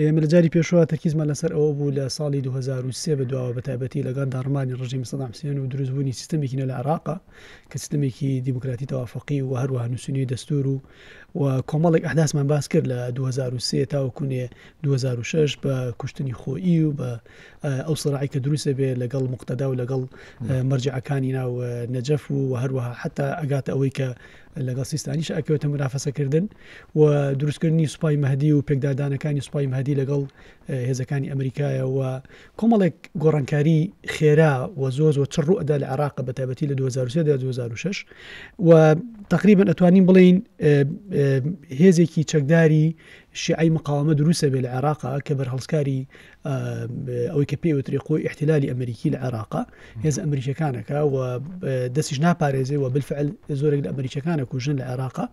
ئێمە لە جاری پێشووە تەرکیزمان لەسەر ئەوە بوو لە ساڵی دوو هەزار و سێ بەدواوە بە تایبەتی لەگەڵ داڕمانی ڕژیمی سەدام حسێن و دروستبوونی سیستەمێکی نوێ لە عێراق کە سیستەمێکی دیموکراتی تەوافقی و هەروەها نووسینی دەستور و و کۆمەڵێک ئەحداسمان باس کرد لە 2023 تاوەکوونێ 2006 بە کوشتنی خۆیی و بە ئەو سڕعی کە دروستە بێ لەگەڵ مقتەدا و لەگەڵ مەرجعەکانی ناو نەجەف و هەروەها حتا ئەگاتە ئەوەی کە لەگەڵ سیستانیش ئەکەوێتە مرافەسەکردن و دروستکردنی سوپای مەهدی و پێکدادانەکانی سوپای مەهدی لەگەڵ هێزەکانی ئەمریکایە و کۆمەڵێک گۆڕانکاری خێرا و زۆ زۆ چڕ و ئەدا لە عراق بە تابەتی لە 2006 و تقریبن ئەتوانین بڵین هێزێکی چەکداری شیعی مقاومە دروستە بێ لە عێراقا کە بەرهەڵسکاری ئەوەی کە پێی وتری قوی احتلالی ئەمریکی لە عێراقا هێز ئەمریکەکانەکە و دەستیش ناپارێزێ و بالفعل زۆرێک لە ئەمریکەکانە کوژن لە عێراقا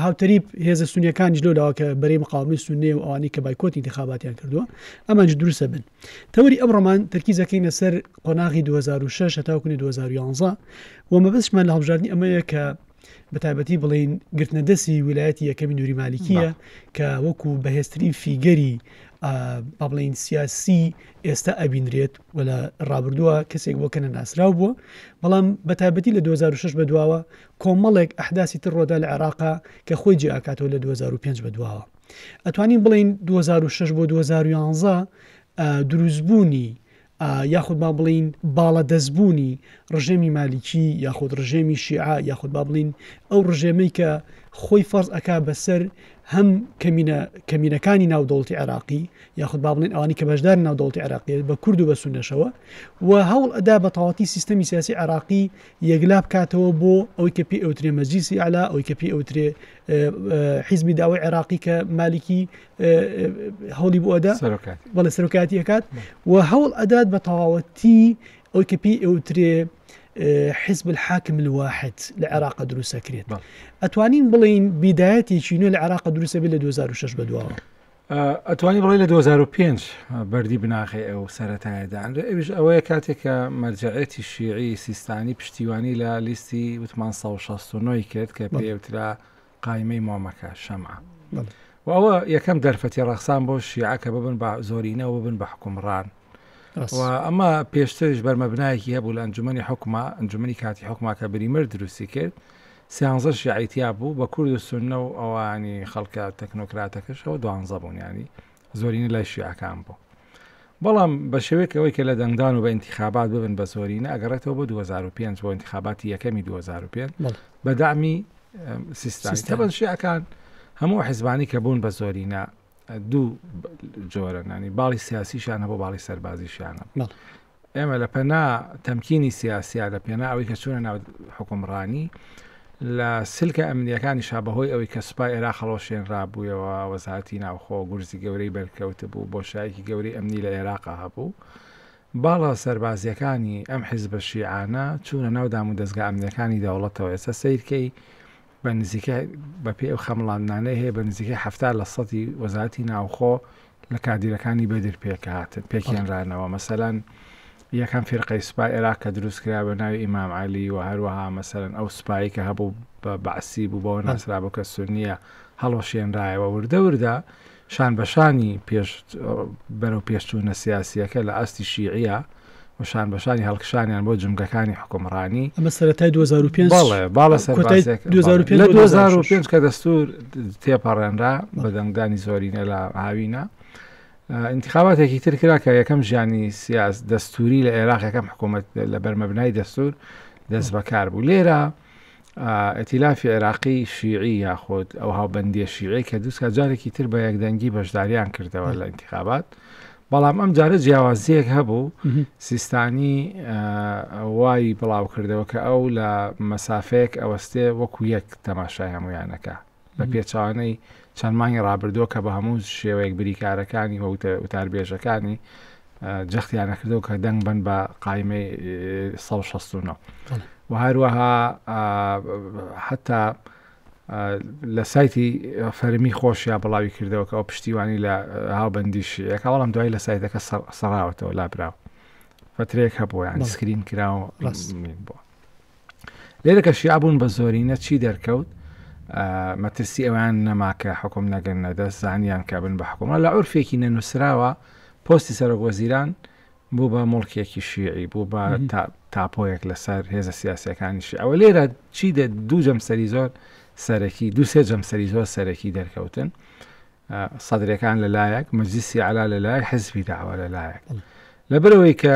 هاوتەریب هێزە سونیەکان جلو لاوەکە بەری مقاومی سونێ و ئەوانی کە بایکۆتی دخاباتیان کردووە ئەمانج دروستە بن تەوری ئەم ڕۆمان تەرکیزەکەی لەسەر قۆناغی 2006 هەتاوکنی 2011 و مەبستمان لە هەڵبژاردننی ئەمەیە کە بەتایبەتی بڵێین گرتنە دەستی ویلایەتی یەکەمی نووری مالیکیە کە وەکو بەهێزترین فیگەری بابلین سیاسی ئێستا ئەبینرێت و لە ڕابردووە کەسێک بۆ کەنە ناسرااو بووە بەڵام بەتابەتی لە 2006 بە دواوە کۆمەڵێک ئەحداسی تر ڕۆدا لە عێراقا کە خۆی جیاکاتەوە لە 2005 بە دواوە ئەتوانین بڵین 2006 بۆ 2011 دروستبوونی یاخود با بڵێین باڵادەستبوونی ڕژێمی مالیکی یاخود ڕژێمی شیعە یاخود با بڵێین ئەو ڕژێمەی کە خۆی فەرز ئەکا بەسەر هەم کەمینەکانی ناو دەوڵی عێراقی یاخود با بڵێن ئەوانی کە بەشدار ناو دەوڵی عێراقیێت بە کورد و بە سونەشەوە و هەوڵ ئەدا بە تەواتی سیستەمی سیاسی عراقی یەکلا بکاتەوە بۆ ئەوی کە پێ ئەوترێ مەجلیسی ئەلا ئەوی کە پێ ئەوترێ حیزبی داوای عێراقی کە مالکی هەوڵی بۆدا بەڵێ سەرکاتی ئەکات و هەوڵ ئەدات بە تەواوەتی ئەوی کە پێی ئەوترێ حزب الحاکم الواحد لە عێراق دروستەکرێت ئەتوانین بڵین بیدایەتێکی نوێ لە عێراق دروستە بێت لە 2006 بەدواوە ئەتوانی بڵێ لە 2005 بەری بناخی ئەو سەتایەدان ئەوش ئەوەیە کاتێکە مەرجەعەتی شیعی سیستانی پشتیوانی لە لیستی وتمان 1669 کرد کە پێوترا قایمەی مۆمەکە شەمعە و ئەوە یەکەم دەرفەتی ڕەخسان بۆ شیعە کە ببن بە زۆرینەوە ببن بە حکومڕان و ئەمە پێشترش بەرمەبنایەکی هەبوو لە ئەنجومی حکومە ئەنجومی کاتی حکوماکە بریمر دروستی کرد سیانزە شیعیتیا بوو بە کورد و سنە و ئەوانی خەڵکە تەکنۆکراتەکەشەوە دوانزە بوونیانی زۆرینە لای شیعەکان بوو بەڵام بە شێوەیەک ئەوەی کە لە دەنگدان و بە ئینتیخابات ببن بە زۆرینە ئەگەڕێتەوە بۆ 2005 بۆ ئینتیخاباتی یەکەمی 2005 بە دامی سیستانی تەبەن شیعەکان هەموو حزبانی کە بوون بە زۆرینە دوو جۆرەنانی باڵی سیاسیشانە بۆ باڵی سەربازیشانە ئێمە لە پەنا تەمکینی سیاسیا لە پێنا ئەوەی کە چوونە ناو حکومڕانی لە سلکە ئەمنیەکانی شا بەهۆی ئەوەی کە سوپای ئێرا خەڵۆشێن رابوویەوە وەزارتی ناوخۆ گورزی گەورەی بەرکەوت بوو بۆ شایکی گەورەی ئەمنی لە عێراقا هەبوو باڵە سەربازیەکانی ئەم حیزبە شیعانە چوونە ناو دام و دەستگا ئەمنیەکانی دەوڵەتەوە ئێستا سیرکەی بە نزیکەی بە پێی ئەو خەمڵاندنانەی هەیە بە نزیکەی حەفتا لە سەدی وەزارەتی ناوخۆ لە کادیرەکانی بەدر پێکهاتن پێکێنرانەوە مەسەلەن یەکەم فێرقەی سوپای عێراق کە دروست کرا بە ناوی ئیمام علی و هەروەها مەسەرن ئەو سوپایی کە هەبوو بە بەعسی بوو بەوە ناسرا بۆ کە سنیە هەڵۆشێنرایەوە وردە وردە شان بە شانی پێش بەرەو پێشچوونە سیاسییەکە لە ئاستی شیعیە و شان بە شانی هەڵکشانیان بۆ جومگەکانی حکومڕانی ئەمە سەرەتای 2005 باڵێ باڵە سەر کۆتای باسێک. 2005 لە 2005 کە دەستور تێپەڕێنرا بە دەنگدانی زۆرینە لە هاوینە انتخاباتێکی تر کرا کە یەکەم ژیانی سیاس دەستوری لە عێراق یەکەم حکوومەت لە بەرمەبنای دەستور دەست بەکار بوو لێرە ئیتیلافی عێراقی شیعی یاخود ئەو هاوبەندیە شیعەی کە دووسکە جارێکی تر بە یەکدەنگی بەشداریان کردەوە لە ئینتخابات بەڵام ئەم جارە جیاوازیەک هەبوو سیستانی وای بڵاوکردەوە کە ئەو لە مەسافەیەک ئەوەستێ وەکو یەک تەماشای هەمویانەکە بە پێچەوانەی چەند مانگی ڕابردووە کە بە هەموو شێوەیەک بریکارەکانی و وتاربێژەکانی جەختیان نەکردەوە کە دەنگ بن بە قایمەی 1669 و هەروەها حتا لە سایتی فەرمی خۆشیا بڵاوی کردەوە کە ئەو پشتیوانی لە هاوبندی شیەکە بەڵام دوای لە سایتەکە سەراوەتەوە لابراوە فترەیەک هەبووە یان سکرین کراوە ڕاست بووە لێرە کە شیعە بوون بە زۆرینە چی دەرکەوت مەترسی ئەویان نەماکە حکوم نەگەن نەدەست زانیان کە بن بە حکومە لە عرفێکی نەنووسراوە پۆستی سەرۆک وەزیران بوو بە مڵکێکی شیعی بوو بە تاپۆیەک لەسەر هێزە سیاسەکانی شیعەوە لێرە چی دە دوو جەمسەری زۆر سەرەکی دوسێ جەمسەری زۆر سەرەکی دەرکەوتن سەدرەکان لەلایەک مەجلیسی علا لەلای حزبی داوە لەلایەک لەبەرەوەی کە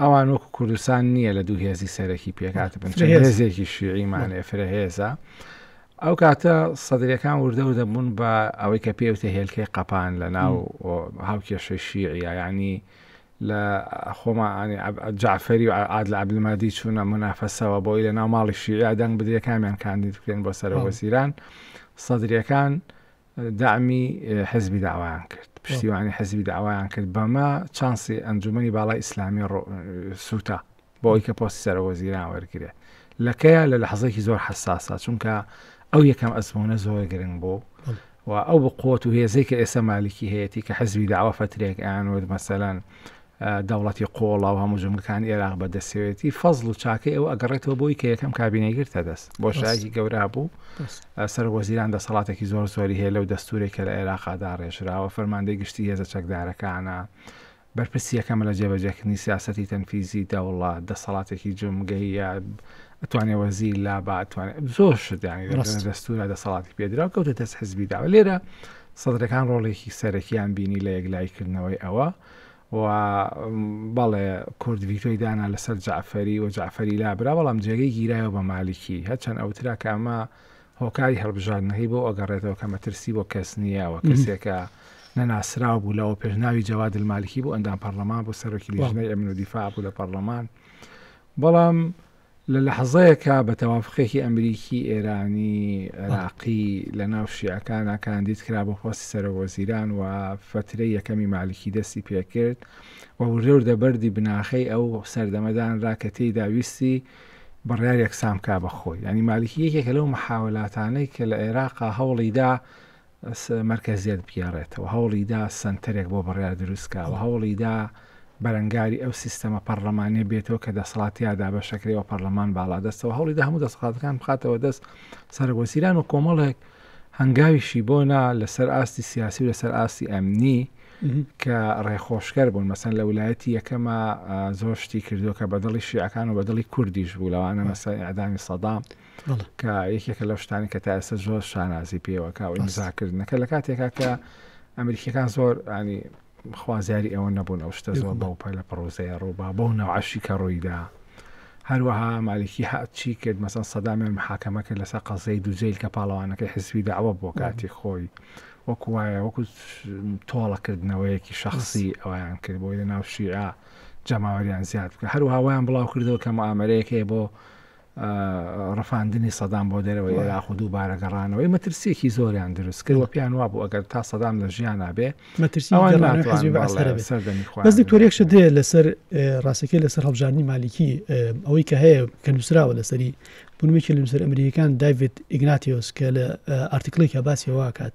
ئەوان وەکو کوردستان نییە لە دوو هێزی سەرەکی پێکات بن هێزێکی شیعیمانێ فرەهێزە ئەو کاتە سەدرەکان وردە و دەبوون بە ئەوەی کە پێوتە هێلکەی قەپان لە ناو هاوکێشەی شیعە ینی لە خۆمانی جعفری و عاد لە عبلمادی چوونە منافەسەوە بۆی لە ناو ماڵی شیعە دەنگ بدرێکامیان کاندید بکرێن بۆ سەرەوە سیران سەدرەکان دەعمی حزبی دەعوایان کرد، پشتیوانی حزبی دەعوایان کرد، بەمە چانسی ئەنجوومەنی باڵای ئیسلامی سووتا بۆ ئەوی کە پۆستی سەرۆکوەزیران وەرگرێت. لە کەیە لە لەحزەیەکی زۆر حساسە چونکە ئەو یەکەم ئەزمونە زۆر گرنگ بوو و ئەو بقوت و هێزەی کە ئێستا مالیکی هەیەی کە حزبی داوا فترێک ئەیانوت مەسەلەن دەوڵەتی قۆڵا و هەموو جومگەکان ئێراق بە دەسەوێتی فەزل و چاکەی ئەو ئەگەڕێتەوە بۆی کە یەکەم کابینەی گرتە دەست بۆ شایکی گەورا بوو سەر وەزیران دەسەڵاتێکی زۆر زۆری هەیە لەو دەستورێک کە لە عێراقادا ڕێژراوە فەرماندەی گشتی هێزە چەکدارەکانە بەرپرسی یەکەمە لە جێبەجێکردنی سیاستی تەنفیزی دەوڵات دەسەڵاتێکی جمگەیە ئەتوانێ وەزی لا باتوانێت زۆر شدانی دەستورە دەسەڵاتی پێدرا کەوتە دەست حزبی داوە لێرە سەدرەکان ڕۆڵێکی سەرەکیان بینی لە یەکلایکردنەوەی ئەوە و بەڵێ کورد ڤیتۆی دانا لەسەر جەعفەری و جەعفەری لابرا بەڵام جێگەی گیرایەوە بە مالیکی هەرچەند ئەوترا کە ئەمە هۆکاری هەڵبژاردنەکەی بۆ ئەگەڕێتەوە کە مەترسی بۆ کەس نییە و کەسێکە نەناسراو بوو لەوە پێشناوی جەواد المالکی بۆ ئەندام پەرلەمان بۆ سەرۆکی لیژنەی ئەمن و دیفاع بوو لە پەرلەمان بەڵام لە لەحزەیەکا بە تەوافقێکی ئەمریکی، ئێرانی، عێراقی لە ناو شیعەکانا کاندید کرا بۆ پۆستی سەرۆک وەزیران و فەترەی یەکەمی مالکی دەستی پێکرد و وردەوردە بەردی بناخەی ئەو سەردەمە دانرا کە تێیدا ویستی بڕیار یەکسان بکا بە خۆی. یانی مالکی یەکێکە لەو محاولاتانەی کە لە عێراقا هەوڵیدا مەرکەزیەت بگێڕێتەوە، هەوڵیدا سەنتەرێک بۆ بڕیار دروستکا و هەوڵیدا بەرەنگاری ئەو سیستەمە پەڕلەمانیە بێتەوە کە دەسەڵات تیا دابەشەکرێ و پەڕلەمان باڵادەستەوە هەوڵیدا هەموو دەسەڵاتەکان بخاتەوە دەست سەرک وەزیران و کۆمەڵێک هەنگاویشی بۆ نا لەسەر ئاستی سیاسی و لەسەر ئاستی ئەمنی کە ڕێخۆشکەر بوون مەسەن لە ولایەتی یەکەمە زۆر شتی کردووە کە بەدڵی شیعەکان و بەدڵی کوردیش بوو لەوانە مەسای ئەدامی سەدام کە یەکێکە لەو شتانی کە تا ئێستا زۆر شانازی پێوەکە و ئیمزاکردنەکە لە کاتێکا کە ئەمریکیەکان زۆر ئانی خوازیاری ئەوە نەبوون ئەو شتە زۆر بەو پەلە پڕۆزەیە ڕووبا بەو ناوعشی کە ڕوویدا هەروەها مالکی هاچی کرد مەسەن سەدامیان محاکەمە کرد لەسەر قەزەی دوجیل کە پاڵەوانەکەی حزبی داوە بۆ کاتی خۆی وەکو وایە وەکو تۆڵەکردنەوەیەکی شخصی ئەویان کرد بۆی لە ناو شیعە جەماوەریان زیاد بکە هەروهاوایان بڵاو کردەوە کە ئامرەیەکەیە بۆ ڕفاندنی سەدام بۆ دەرەوەی عێراق و دووبارە گەڕانەوەی مەترسیەکی زۆریان دروست کرد و پێیان وابوو ئەگەر تا سەدام لە ژیان نابێ مەترسیبەس دکتۆرێکش دێ لەسەر ڕاستەکە لەسەر هەڵبژانی مالیکی ئەوەی کە هەیە کە نووسراوە لەسەری بنوێکی لە نووسەر ئەمریکان داوید ئیگناتیۆس کە لە ئارتیکلی کە باسیەوەکات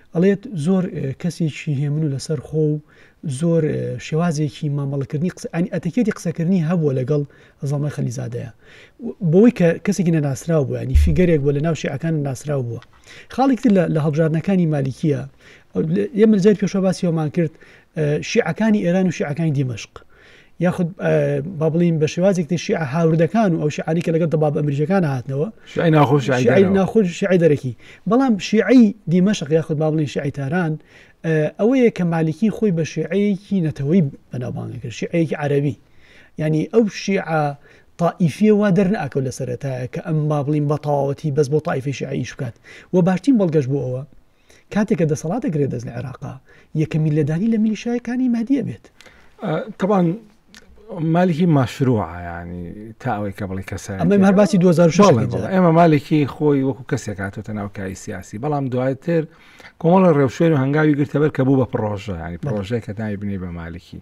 ئەڵێت زۆر کەسێکی هێمن و لەسەر خۆ و زۆر شێوازێکی مامەڵەکردنی قسە ئەنی ئەتەکێتی قسەکردنی هەبووە لەگەڵ زەڵمای خەلیزادەیە بۆی کە کەسێکی نەناسراو بوو ینی فیگەرێک بۆ لە ناو شیعەکان ناسراو بووە خاڵێکتر لە هەڵبژاردنەکانی مالیکیە ئێمە جار پێشە باسی ئەومان کرد شیعەکانی ئێران و شیعەکانی دیمەشق، یاخود با بڵێین بە شێوازێک تر شیعە هاوردەکان و ئەو شیعانەی کە لەگەڵ دەبابە ئەمریکییەکان هاتنەوە، شیعەی ناخۆش، شیعەی شیعەی دەرەوە. ناخۆش و شیعەی دەرەکی. بەڵام شیعەی دیمەشق یاخود با بڵێین شیعەی تاران ئە، ئەوەیە کە مالکی خۆی بە شیعەیەکی نەتەوەیی بەناوبانگ ئەکرد، شیعەیەکی عەرەبی. یانی ئەو شیعە تائیفییە وا دەرناکەوت لە سەرەتایە کە ئەم با بڵێین بە تەواوەتی بەس بۆ تائیفەی شیعە ئیش بکات و باشترین بەڵگەش بۆ ئەوە، کاتێک کە دەسەڵات دەگرێت دەست لە عێراقا یەکەمی لێدانی لە میلیشایەکانی مادیە بێت تەبان مالکی ماشروعیانی تا ئەوەی کە بڵی کەسە ئەمە هەر باسی 2006 ئێمە مالکی خۆی وەکو کەسێک هاتۆتە ناوکایی سیاسی بەڵام دواتر کۆمەڵە ڕێوشێن و هەنگاوی گرتەبەر کە بوو بە پرۆژە ینی پرۆژەیە کە ناوی بنی بە مالکی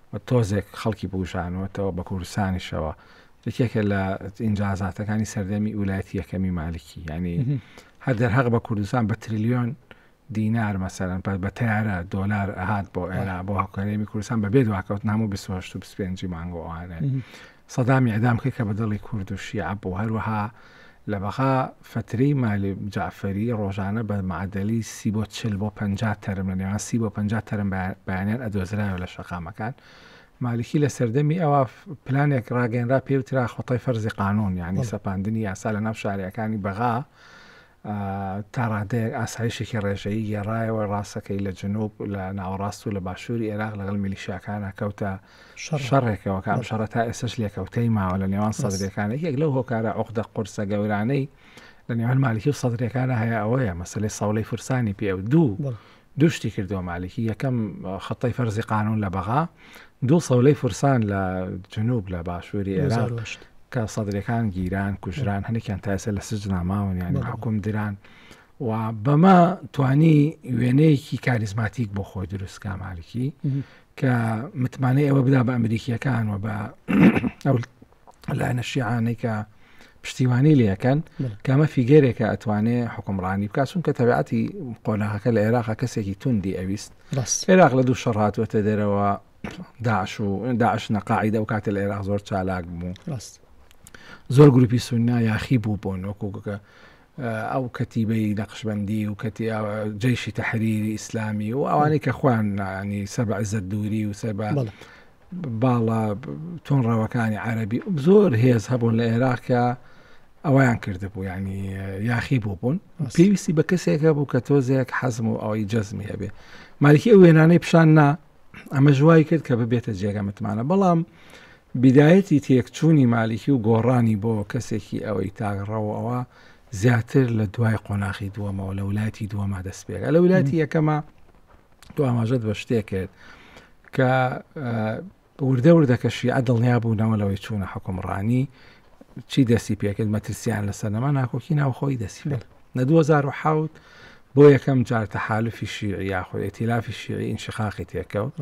و تۆزێک خەڵکی بووژانووەتەوە بە کوردستانیشەوە یەکێکە لە ئینجازاتەکانی سەردەمی ئولایەتی یەکەمی مالکی ینی هەر دەرهەق بە کوردستان بە تریلیۆن دینار مەسەرەن پەر بە تارە دۆلار ئەهات بۆ ئێرا بۆ هەکارێمی کوردستان بەبێ دواکەوتن هەموو 25 مانگۆوانێ سەدام ئیعدام کرد کە بە دڵی کورد و شیعە بوو، هەروەها لە بەغا فەترەی مالی جەعفەری ڕۆژانە بە معەدەلی سی بۆ چل بۆ پەنجا تەرم لە نێوان سی بۆ پەنجا تەرم بەیانیان ئەدۆزرایەوە لە شەقامەکان. مالکی لە سەردەمی ئەوە پلانێک ڕاگەنرا پێوترا خۆتای فەرزی قانون یعنی سەپاندنی یاسا لە ناو شارەکانی بەغا تا ڕادەیەک ئاسایشێکی ڕێژەیی گێڕایەوە، ڕاستەکەی لە جنوب لە ناوەڕاست و لە باشووری ئێراق لەگەڵ میلیشیاکانە کەوتە شەڕێکەوە کە ئەم شەڕە تا ئێسش لێکەوتەی ماوە لە نێوان سەدرەکانە یەک لەو هۆکارە عقدە قورسە گەورانەی لە نێوان مالکی و سەدرەکانە هەیە ئەوەیە مەسلەی سەوڵی فرسانی پێ و دوو دوو شتی کردووە مالکی، یەکەم خەتەی فەرزی قانون لە بەغا، دوو سەولەی فرسان لە جنوب لە باشووری ئێران کە سەدرەکان گیران کوژران هەنێکیان تاسە لە سجنا ماون یان حکوم دران و بەمە توانی وێنەیەکی کاریزماتیک بۆ خۆی دروستکە مالکی کە متمانەی ئەوە بدا بە ئەمریکیەکان و بە لایەنە شیعانەی کە پشتیوانی لەکەن کەمە فیگەرێکە ئەتوانێ حکومڕانی بکسون کە تەبعاتی قۆناغەکە لە عێراق کەسێکی توندی ئەویست عێراق لە دوو شەڕاتوەتە دەرەوە داعش و داعش نەقاعدە و کاتە لە عێراق زۆر چالاک بوو زۆر گروپی سونا یاخی بوو بۆ نۆکوگەکە ئەو کەتیبەی نەقشبەندی و جەیشی تەحریری ئیسلامی و ئەوانەی کە خۆیان ینی سەر بە عزت دووری و سەر بە باڵە تون ڕەوەکانی عەربی زۆر هێز هەبوون لە عێراقە ئەویان کردبوو ینی یاخی بوو بوون پێویستی بە کەسێکە بوو کە تۆزێک حەزم و ئەوەی جەزمی هەبێ مالیکی ئەو وێنانەی پیشان نا ئەمە ژوای کرد کە ببێتە جێگە متمانە بەڵام بیدایەتی تێکچوونی مالیکی و گۆڕانی بۆ کەسێکی ئەوەی تاک ڕەوەوە زیاتر لە دوای قۆناخی دووەمەوە لە ولایەتی دووەما دەست پێکا لە ولایەتی یەکەمە تۆ ئاماژەت بە شتێ کرد کە وردە وردە کە شیعە دڵنیا بوونەوە لەوەی چوونە حکومڕانی چی دەستی پێکرد مەترسیان لەسەر نەما ناکۆکی ناوخۆی دەسی لە 2010 بۆ یەکەم جار تەحالفی شیعی یاخۆ ئێتیلافی شیعی ئینشقاقی تێکەوت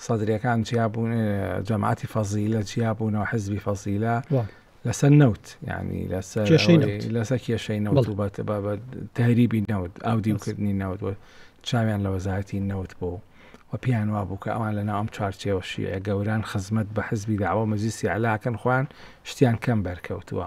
سەدریەکان جیا بوون جەماعتی فەزیلە جیا بوونەوە حزبی فەزیلە لەسەر نەوت ینی لەسەر لەسەر کێشەی نەوت و بەتە بە تەریبی نەوت ئاو دیوکردنی نەوت چاویان لە وەزارەتی نەوت بوو و پێیان وا بوو کە ئەوان لە ناوم چارچێوە شیعە گەوران خزمەت بە حزبی داوە مەزیسی علاکەن خوان شتیان کەم بەرکەوتووە.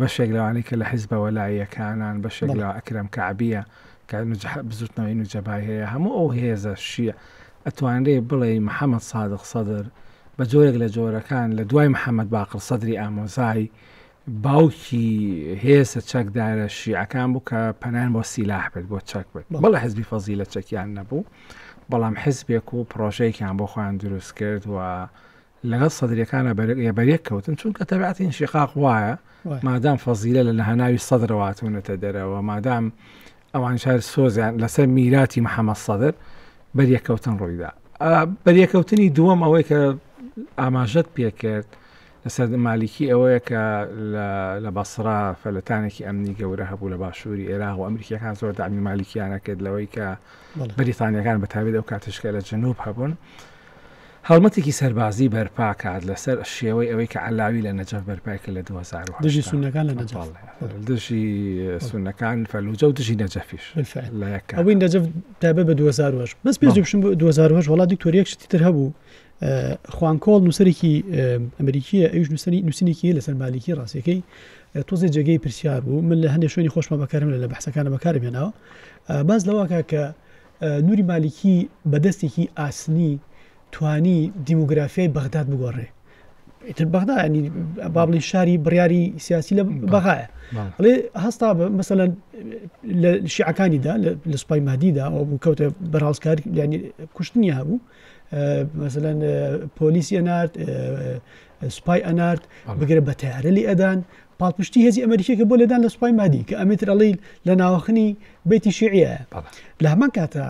بەشێک لەوانەی کە لە حیزبە وەلائییەکانان، بەشێک لە ئەکرەم کەعبییە کە بزووتنەوەی نوجەبای هەیە، هەموو ئەو هێزە شیعە ئەتوانرێ بڵێی محەمەد سادق سەدر بە جۆرێک لە جۆرەکان لە دوای محەمەد باقر سەدری ئامۆزای باوکی هێزە چەکدارە شیعەکان بوو کە پەنایان بۆ سیلاح بێت بۆ چەک بێت بەڵە حزبی فەزی لە چەکیان نەبوو بەڵام حزبێک و پرۆژەیەکیان بۆ خۆیان دروست کرد و لەگەڵ سەدریەکانە بەریەک کەوتن چونکە تەبعاتی انشقاق وایە مادام فەزیلە لە لەهاناوی سەدرەوە هاتوونەتە دەرەوە مادام ئەوان شار سۆزیان لەسەر میراتی محەممەد سەدر بەریەکەوتن ڕوویدا بەریەکەوتنی دووەم ئەوەی کە ئاماژەت پێکرد لەسەر مالیکی ئەوەیە کە لە بەسرا فەلەتانێکی ئەمنی گەورە هەبوو لە باشووری ئێراغ و ئەمریکیەکان زۆر دامی مالیکیانە کرد لەوەی کە بەریتانیەکان بەتابێت ئەو کاتشکە لە جنوب هەبوون هەڵمەتێکی سەربازی بەرپاکات لەسەر شێوەی ئەوەی کە عەلاوی لە نەجەف بەرپای کرد لە دوو هەزار و هەشت. دژی سوننەکان لە نەجەف. بەڵێ دژی سوننەکان فەلوجە و دژی نەجەفیش. بالفعل. لە یەک کات. ئەوەی نەجەف تایبەت بە دوو هەزار و هەشت. بەس پێش بچم بۆ دوو هەزار و هەشت وەڵا دکتۆر یەک شتی تر هەبوو خوان کۆڵ نووسەرێکی ئەمریکییە ئەویش نووسەری نووسینێکی هەیە لەسەر مالیکی ڕاستییەکەی تۆزێ جێگەی پرسیار بوو من لە هەندێک شوێنی خۆشمە بەکارم لە بەحسەکانە بەکارم هێناوە باس لەوە کە کە نوری مالیکی بە دەستێکی ئاسنی توانی دیموگرافیای بەغداد بگۆڕێ ئیتر بەغدا ینی با بڵین شاری بڕیاری سیاسی لە بەغایە ئەڵێ هەستا مەسەلا لە شیعەکانیدا لە سوپای مادیدا ئەو بوو کەوتە بەڕاستکار ینی کوشتنی هەبوو مەسەلا پۆلیسی نارد سوپای ئەنارد بگرە بە تەیارە لێ ئەدان پاڵپشتی هێزی ئەمریکیەکە بۆ لێدان لە سوپای مادی کە ئەمێتر ئەڵیل لە ناوەخنی بیتی شعە لە هەمان کاتە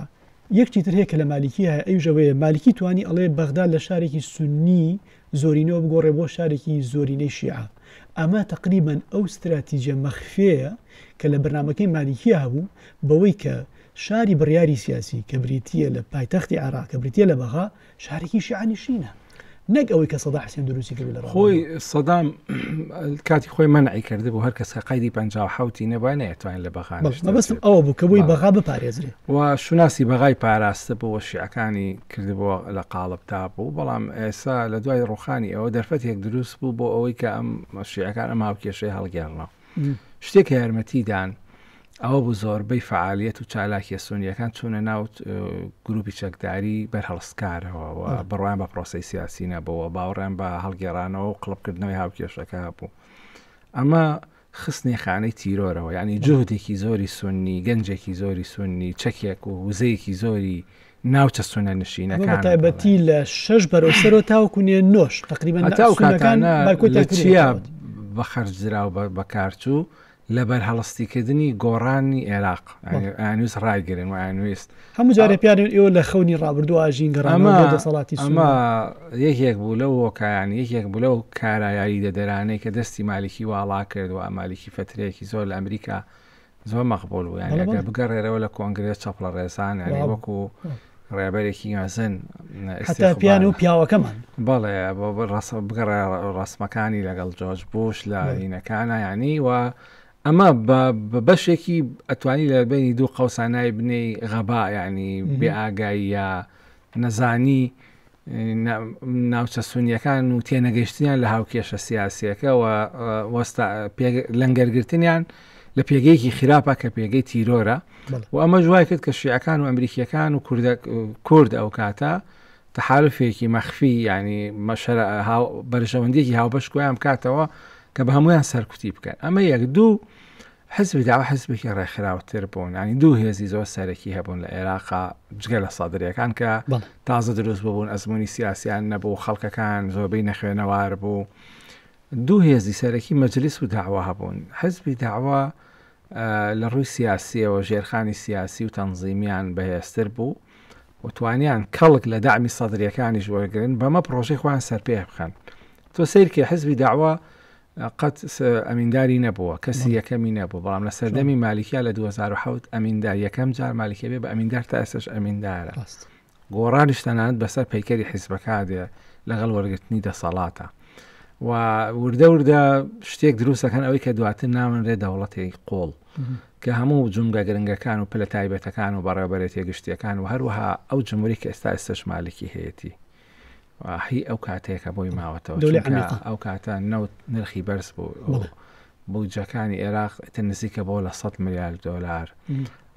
یەکتی تر هەیە کە لە مالیکی هەیە ئەوژەوەیە مالیکی توانی ئەڵێ بەغدا لە شارێکی سنی زۆرینەوە بگۆڕێ بۆ شارێکی زۆرینەی شیعە ئەمە تقریبان ئەو استراتیجە مەخفەیە کە لە بەرنمەکەی مالیکی هەبوو بەوەی کە شاری بڕیاری سیاسی کە بریتە لە پایتەختی عراق کە بریتە لە بەغا شارێکی شیعانیشینە نەک ئەوەی کە سەدا حسێن دروستی کرد لە خۆی سەدام کاتی خۆی منعی کرده بۆ هەر کەس کە قایدی پ حوتی نەبووە نەتوانین لە بەغان بەستم ئەوە بوو کە بۆی بەغا بپارێزرێ و شوناسی بەغای پاراستە بۆ شیعەکانی کردبووە لە قاڵب تا بوو بەڵام ئێسا لە دوای ڕوخانی ئەوە دەرفەتێک دروست بوو بۆ ئەوەی کە ئەم شیعەکان ئەم هاوکێشەی هەڵگێڕنەوە شتێک کە یارمەتی دان ئەوە بوو زۆربەی فعالیت و چالاکیە سونیەکان چوونە ناو گروپی چەکداری بەرهەڵستکارەوە و بڕوان بە پرۆسی سیاسی نەبەوە باوەڕیان بە هەڵگێرانەوە و قڵپکردنەوەی هاوکێشەکە بوو ئەمە خستنی خانەی تیرۆرەوە ینی جوهدێکی زۆری سنی گەنجێکی زۆری سنی چەکێک و وزەیەکی زۆری ناوچە سونە نشینەکان تایبەتی لە شش بەرەو سەرۆ تاوکو نێ نۆش تقریبا تاکانە بە خەرجرا و بەکارچوو لە بەرهەڵستیکردنی گۆڕانی عێراق ئەنووس ڕایگرن و ئەنویست هەموو جارە پیاێن ئێوە لە خەونی ڕابردوو ئاژین گەڕامە دەسەڵاتی ئەمە یەکێک بوو لە وۆکایان یەکێک بوو لەو کارایایی دەدەرانەی کە دەستی مالیکی واڵا کرد و ئەمالیکی فترەیەکی زۆر لە ئەمریکا زۆر مەقبول بوو یعنی ئەگەر بگەڕێرەوە لە کۆنگرێ چەپڵە ڕێسان یعنی وەکو ڕێبەرێکی مەزن پیان و پیاوەکەمان بەڵێ ڕاست بگەڕێ ڕسمەکانی لەگەڵ جۆش بوش لە هینەکانە ینی و ئەمە بە بەشێکی ئەتوانی لە بینی دوو قەوسانای بنەی غەبا ینی بێ ئاگاییە نەزانی ناوچە سونیەکان و تێنەگەشتیان لە هاوکێشە سیاسیەکە لەنگەرگرتنیان لە پێگەیەکی خراپە کە پێگەی تیرۆرە و ئەمە جوای کرد کە شیعەکان و ئەمریکیەکان و کورد ئەو کاتە تەحالفێکی مەخفی ینی مەشەر بەرژەوەندێکی هاوبەش گویان بکاتەوە کە بە هەمویان سەرکوتی بکەن ئەمە یەک دوو حزبی دەعوە حزبێکی ڕێکخراوتر بوون ینی دوو هێزی زۆر سەرەکی هەبوون لە عێراقا جگە لە سەدرەکان کە تازە دروست ببوون ئەزمموی سیاسیان نەبوو خەڵکەکان زۆربەی نەخوێنەوار بوو دوو هێزی سەرەکی مەجلیس و داوا هەبوون حزبی داوا لە ڕووی سیاسیەوە ژێرخانی سیاسی و تەنزیمیان بەهێزتر بوو وتوانیان کەڵک لە دامی سەدرەکانیش وەرگن بەمە پرۆژەی خۆیان سەرپێ بخەن تۆ سیرکە حزبی داوا قەت ئەمینداری نەبووە کەسی یەکەمی نەبوو بەڵام لە سەردەمی مالیکیا لە 2007 ئەمیندار یەکەم جار مالیکە بێ بە ئەمیندار تا ئێسش ئەمیندارە گۆڕانیش تەنانەت بەسەر پەیکەری حیزبەکە دێ لەگەڵ وەرگرتنی دەسەڵاتە و وردە وردە شتێک دروستەکەن ئەوەی کە دواتر ناون رێ دەوڵەتی قۆڵ کە هەموو جمگە گرنگەکان و پلە تایبەتەکان و بەڕێبەرێتی گشتیەکان و هەروەها ئەو جمهوری کە ئێستا ئێستش مالکی هەیەی هی ئەو کاتێکە بۆی ماوەتەوە ئەو کاتە نەوت نرخی بەرز بوو بودجەکانی عێراق تە نزیکە بۆ لە 100 میلیارد دلار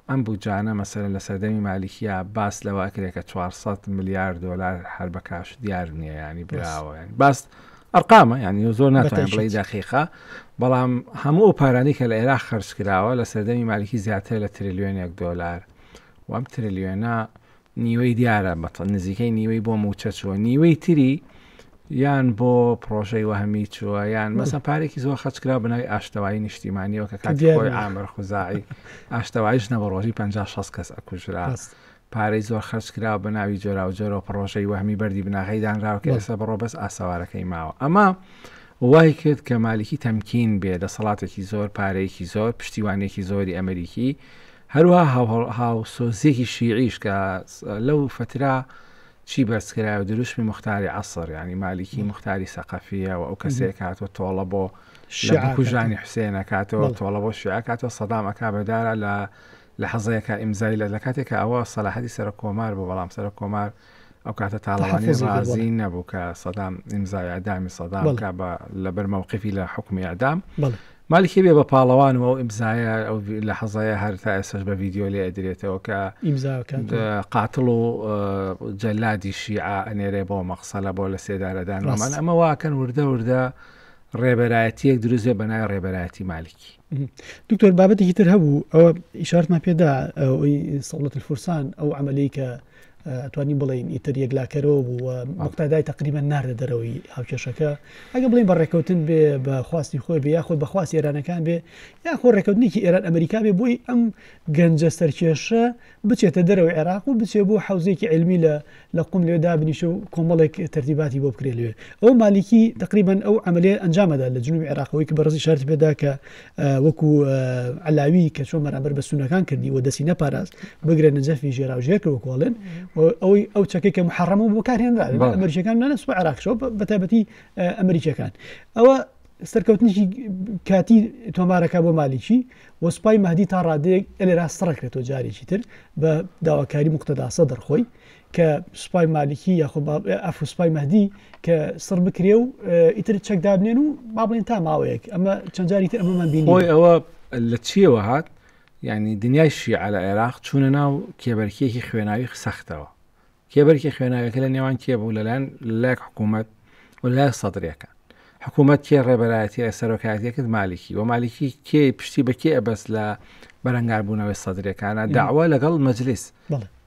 ئەم بودجانە مەسەر لە سەردەمی مالیکیە باس لەوە ئەکرێت کە 400 میلیارد دلار هەر بە کاش دیار نییە ینی براوە باست ئەرقامە ینی زۆر ناتوانین بڵی دەقیقا بەڵام هەموو ئەو پارانی کە لە عێراق خرج کراوە لە سەردەمی مالیکی زیاتر لە تریلیۆنێک دلار وام تریلیۆنە نیوەی دیارە بەتەڵ نزیکەی نیوەی بۆ موچە چووە نیوەی تری یان بۆ پرۆژەی وەهمی چووە یان مەسە پارێکی زۆر خەچکرا بنای ئاشتەوایی نیشتیمانیەوە کە کاتیۆی ئامر خوزایی ئاشتەوایش نەبە ڕۆژی 56 کەس ئەکوژرا پارەی زۆر خەرچکرا بە ناوی جۆرا و جۆرە پرۆژەی وەهمی بەری بناغی دانراوە کە ئێستا بڕۆ بەس ئاسەوارەکەی ماوە ئەمە وای کرد کە مالیکی تەمکین بێ دەسەڵاتێکی زۆر پارەیەکی زۆر پشتیوانێکی زۆری ئەمریکی هەروەها هاوسۆزیەکی شیعیش کە لەو فترە چی بەرز کرایە دروشمی مختاری عەسر یعنی مالیکی مختاری سەقەفیە و ئەو کەسێک هاتوە تۆڵە بۆ شعکوژانی حوسێنە کاتەوە تۆڵە بۆ شیع کاتەوە سەدام ئەکا بەدارە لە لە حەزەیەەکە ئیمزای لە لە کاتێکە ئەوە سەلاحەتی سەر کۆمار بۆ بەڵام سەر کۆمار ئەو کاتە تاڵەوانی ڕازی نەبوو کە سەدام ئیمزای ئەدامی سەدام کا بە لەبەر مەوقفی لە حکومی ئەدام مالیکی بێ بە پاڵەوان و ئەو ئیمزایە ئەو لە حەزایە هەر تا ئێسش بە ڤیددیو لێ ئەدرێتەوە کە قاتڵ و جەلادی شیعە ئەنێرێ بۆ مەقسەلە بۆ لە سێدارەدان ئەمە واکەن وردە وردە ڕێبەرایەتیەک دروزێ بەنای ڕێبەرایەتی مالیکی دکتۆر بابەتێکی تر هەبوو ئەوە ئیشارتمان پێدا ئەوەی سەڵەت الفرسان ئەو عملی کە توانی بڵین ئیتر یەکلاکەرەوە بوو و مقتادای تقریبا ناردە دەرەوەی هاوکێشەکە ئەگە بڵین بە ڕێککەوتن بێ بە خواستی خۆی بێ یاخود بەخواست ئێرانەکان بێ یاخۆ ڕێککەوتنێکی ئێران ئەمریکا بێ بۆی ئەم گەنجە سەرکێشە بچێتە دەرەوەی عێراق و بچێ بۆ حەوزەیەکی عیلمی لە لە قوم لەوێ دابنیشێ و کۆمەڵێک تەرتیباتی بۆ بکرێ لەوێ ئەو مالیکی تقریبەن ئەو عملێ ئەنجامەدا لە جنوبی عێراقەوەی کە بەڕزی شارتی پێدا کە وەکو علاوی کە چۆن بەرامبەر بە سونەکان کردی و دەسی نەپاراست بگرە نەجەفی ژێرا و ژێر کرد وکۆڵێن ئەوەی ئەو چەکەی کە محڕەمە بۆ کارهێنرا ئەمریکەکان نانەس عراقشەوە بەتابەتی ئەمریکەکان ئەوە سەرکەوتنیکی کاتی تۆمارەکە بۆ مالیکی و سوپای مەدی تا ڕادەیەک ئەلێرا سڕکرێتەوە جارێکی تر بە داواکاری مختداسە دەرخۆی کە سوپای مالیکی یاخۆ ئەفوسپای مەدی کە سڕ بکرێ و ئیتر چەک دابنێن و با بڵێن تا ماوەیەک ئەمە چەند جاری تر ئەمەمان بینی ئەوە لە چیەوە هات یعنی دنیای شیعە لە عێراق چوونە ناو کێبەرکیەکی خوێناوی سەختەوە کێبەرکێ خوێناویەکە لە نێوان کێ بوو لەلایەن لەلایەک حکوومەت و لای سەدرەکان حکوومەت کێ ڕێبەرایەتی لە سەرۆکایەتی کرد مالیکی و مالیکی کێ پشتی بە کێ ئەبەست لە بەرەنگار بوونەوەی سەدرەکانە داوا لەگەڵ مەجلیس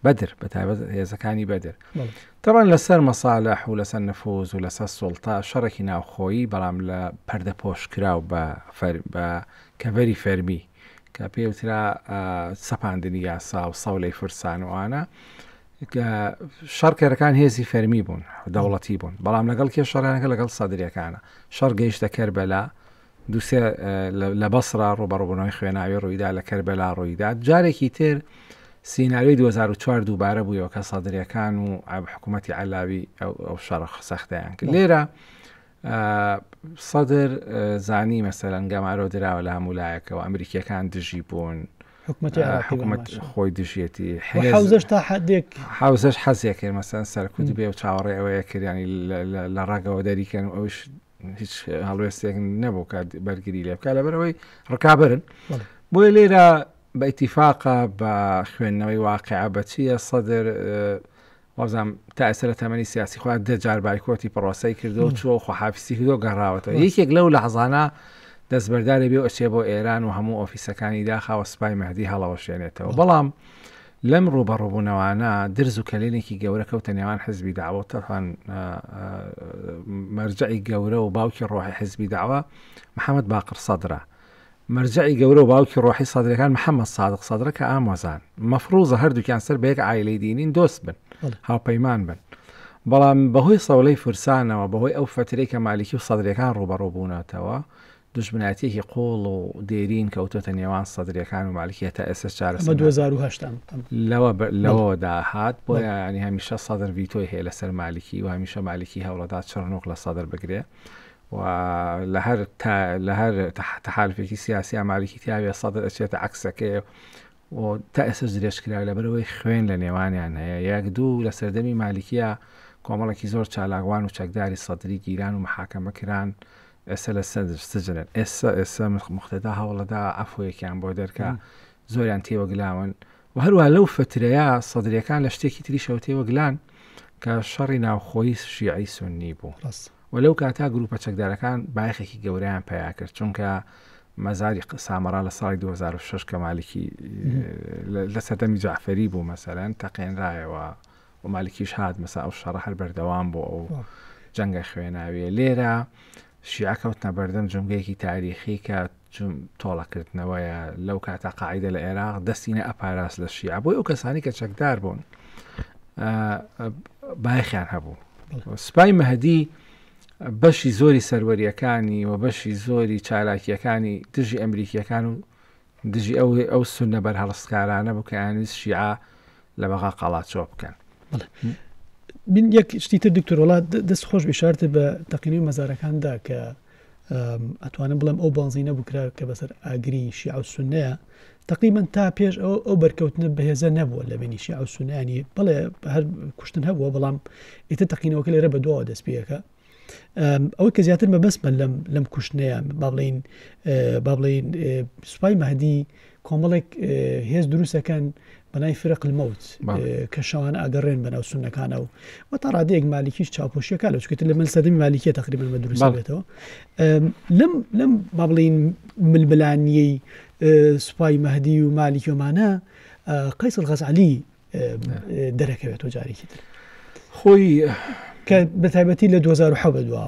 بەدر بە تابەت هێزەکانی بەدر تەوان لەسەر مەساالح و لەسەر نفوز و لەسەر سوڵتا شەڕێکی ناوخۆیی بەڵام لە پەردەپۆش کراو بە کەڤەری فەرمی کە پێی وترا سەپاندنی یاسا و سەولەی فرسان و ئانا کە شەڕکەرەکان هێزی فەرمی بوون دەوڵەتی بوون بەڵام لەگەڵ کێ شەڕانەکە لەگەڵ سەدرەکانە شەڕ گەیشتە کەربەلا دووسێ لە بەسرا ڕوبەڕبوونەوەی خوێناوی ڕوویدا لە کەربەلا ڕوویدا جارێکی تر سینناوی 2004 دووبارە بوویەوە کە سەدرەکان و حکوومەتتی علاوی ئەو شەڕ سەختیان کرد لێرە سەدر زانی مەسەرەن گەمارۆ دراوە لە هەموو لایەکەوە ئەمریکیەکان دژی بوون حکوومەت خۆی دژیەتی حوزش تا حدێک حوزش حەزێک کرد مەسەن سەرکوت بێ و چاوەڕێ ئەوەیە کردیانی لە ڕاگەوە دەریکەن ئەوش هیچ هەڵوێستێک نەبوو کات بەرگری لێ بکە لەبەرەوەی ڕکابرن بۆیە لێرە بە ئیتیفاقە بە خوێندنەوەی واقع بەچیە سەدر وابزانم تا ئێستا لە تەمەنی سیاسی خۆیان دە جار بایکۆتی پڕۆسەی کردو چووە خۆحافیسی کردو گەڕاوەتەوە یەکێک لەو لەحزانە دەستبەرداری بێ و ئەچێ بۆ ئێران و هەموو ئۆفیسەکانی داخاوە سپای مەهدی هەڵەوەشێنێتەوە بەڵام لەم ڕووبەڕووبوونەوانە درز و کەلێنێکی گەورە کەوتە نێوان حزبی داوە و تەفان مەرجعی گەورە و باوکی ڕۆحی حزبی داوە محەممەد باقر سەدرە مەرجەعی گەورەو باوکی ڕۆحی سەدرەکان محمد سادق سەدرە کە ئامۆزان مەفڕوزە هەردووکیان سەر بە یەک عایلەی دینین دۆست بن هاوپەیمان بن بەڵام بەهۆی سەولەی فرسانەوە بەهۆی ئەو فترەی کە مالیکی و سەدرەکان ڕوبەڕوو بوونەتەوە دوژمنایەتیەکی قوڵ و دێرین کەوتۆتە نێوان سەدرەکان و مالکیە تا ئێستا چارە مە 2010 لەوە لەوەوە داهات بۆ ینی هەمیشە سەدر ڤیتۆی هەیە لەسەر مالکی و هەمیشە مالکی هەوڵەدا چڕنوق لە سەدر بگرێ و لە هەر لە هەر تەحالفێکی سیاسی ئاماریکی تیاوێ سەدر ئەچێتە عکسەکەی و تا ئێسش درێژ کرا لە بەرەوەی خوێن لە نێوانیان هەیە یەک دوو لە سەردەمی مالیکیە کۆمەڵێکی زۆر چالاکوان و چەکداری سەدری گیران و محاکەمە کران ئێستا لە سەدر سجنن ئێستا ئێستا مختدا هەوڵەدا عفوەیەکیان بۆ دەرکە زۆریان تێوەگلاون وە هەروەها لەو فەترەیە سەدریەکان لە شتێکی تریشەوە تێوەگلان کە شەڕی ناوخۆی شیعی سوننی بوو ڕاست و لەو کاتا گروپە چەکدارەکان بایەخێکی گەورەیان پیا کرد چونکە مەزاری ق- سامەڕا لە ساڵی 2006 کە مالکی لە- لە سەردەمی جعفەری بوو مەسەرەن تەقێنرایەوە و مالکیش هات مەسا ئەو شەڕە هەر بەردەوام بۆ ئەو وا. جەنگە خوێناویە لێرە شیعە کەوتنە بەردەم جومگەیەکی تاریخی کە تۆڵەکردنەوەیە لەو کاتە قاعدە لە عێراق دەستی نە ئەپاراس لە شیعە بۆی ئەو کەسانی کە چەکدار بوون بایخیان هەبوو سپای مەهدی بەشی زۆری سەروەریەکانی و بەشی زۆری چالاکیەکانی دژی ئەمریکیەکان و دژی ئەو ئەو سونە بەرهەڵستکارانە بوو کە ئەیانویست شیعە لە بەغا قاڵاچۆ بکەن. من یەک شتی تر دکتۆر وڵات دەست خۆش بشارتە بە تەقینەوەی مەزارەکاندا کە ئەتوانم بڵێم ئەو بانزی نەبووکرا کە بەسەر ئاگری شیع و سنەیە تقریبان تا پێش ئەو ئەو بەرکەوتنە بەهێزە نەبووە لە بینی شیع و سنانی بڵێ هەر کوشتن هەبووە بەڵام ئێتە تەقینەوەکە لێرە بە دواوە دەست پێەکە ئەوە کە زیاتر مەبەستمە لەم لەم کوشتنەیە با بڵین با بڵین سوپای مەدی کۆمەڵێک هێز دروستەکەن بەنای فرق المەوت کە شەوان ئەگەڕێن بەناو سونەکانە و و تا ڕادەیەک مالیکیش چاپۆشیەکە لە چکێت لە من سەدەمی مالیکیە تقریبا بە دروستێتەوە لەم لەم با بڵین ململانیەی سوپای مەدی و مالیکیۆمانە قیسڵ غەزعلی دەرەکەوێتەوە جارێکی تر خۆی کە بەتابەتی لە 2010 بەدووە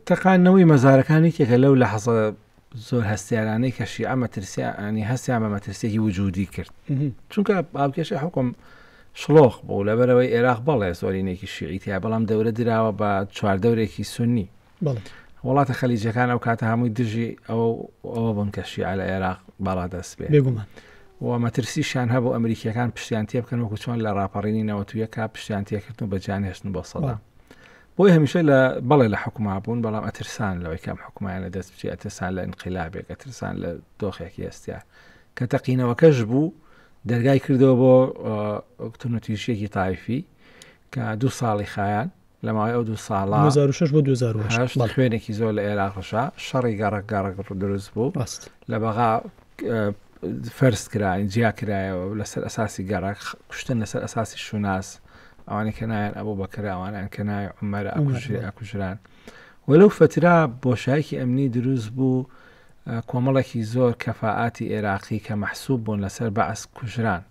تەقانەوەی مەزارەکانی کێکە لەو لە حەزە زۆر هەستیارانەی کەشی ئەمە ترسیانی هەستیان بە مەترسێکی وجودی کرد چونکە باوکێشە حکم شلۆخ بوو لەبەرەوەی عێراق بەڵێ زۆرینێکی شیعیتیا بەڵام دەورە دراوە بە چواردەورێکی سنی وڵاتە خەلیجەکان ئەو کاتە هەمووی دژی ئەو ئەوە بوون کە شیعە لە عێراق باڵا دەست بێ بێگومان و مەترسیشیان هەبوو ئەمریکیەکان پشتیان تێ بکەن وەکو چۆن لە ڕاپەڕینی نەوەتویەکە پشتیان تێکردن و بە جانهێشتن بۆ سەدا بۆی هەمیشە لە بەڵێ لە حکوما بوون بەڵام ئەترسان لەوەی کەم حکومایانە دەست بچی ئەترسان لە انقلابێک ئەترسان لە دۆخێکی ئێستیا کە تەقینەوەکەش بوو دەرگای کردەوە بۆ کتونەتیشیەکی تایفی کە دوو ساڵی خایان لە ماوەی ئەو دوو ساڵە، دوو هەزار و شەش بۆ دوو هەزار و هەشت، بەڵێ. خوێنێکی زۆر لە ئێراق ڕشا، شەڕی گەڕەک گەڕەک دروست بوو. ڕاست. لە بەغا فەرز کرا، جیا کرایەوە لەسەر ئەساسی گەڕەک، کوشتن لەسەر ئەساسی شوناس، ئەوانەی کە ناویان ئەبوبەکرە، ئەوانەیان کە ناوی عومەرە ئەکوژرێ ئەکوژران. و لەو فەترە بۆشایەکی ئەمنی دروست بوو، کۆمەڵێکی زۆر کەفائاتی ئێراقی کە مەحسووب بوون لەسەر بەعس کوژران.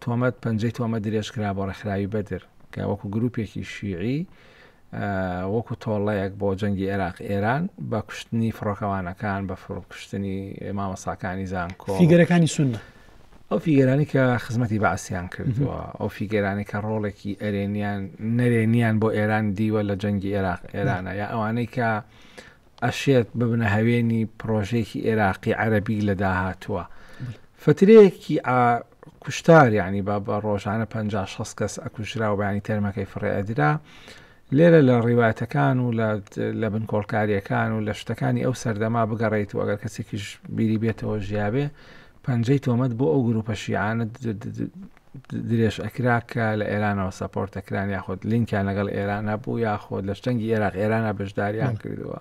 تۆمەت، پەنجەی تۆمەت درێژ کرا بۆ ڕێکخراوی بەدر، کە وەکو گرووپێکی شیعی و وەکو تۆڵەیەک بۆ جەنگی عێراق، ئێران، بە کوشتنی فڕۆکەوانەکان، بە کوشتنی مامۆستاکانی زانکۆ، فیگەرەکانی سوننە، ئەو فیگەرانی کە خزمەتی بەعسیان کردووە، ئەو فیگەرانی کە ڕۆڵێکی ئەرێنیان نەرێنیان بۆ ئێران دیوە لە جەنگی عێراق، ئێرانە، یا ئەوانەی کە ئەشێت ببنە هەوێنی پڕۆژەیەکی ئێراقی عەرەبی لە داهاتووە فترەیەکی ئا کوشتار یعنی بە بە ڕۆژانە پ شەست کەس ئەکوژرا و بەیانی تەرمەکەی فڕێ ئەدرا لێرە لە ڕیواتەکان و لە لە بن کۆڵکاریەکان و لە شتەکانی ئەو سەردەما بگەڕیت و ئەگەر کەسێکیش بیری بێتەوە ژیاێ پەنجەی تۆمەت بۆ ئەو گروپە شیعانە درێژ ئەکرا کە لە ئێرانەوە سەپۆرت ئەکران یاخود لینکیان لەگەڵ ئێران هەبوو یاخود لە شتەنگی ئێراق ئێرانە بەشداریان کردووە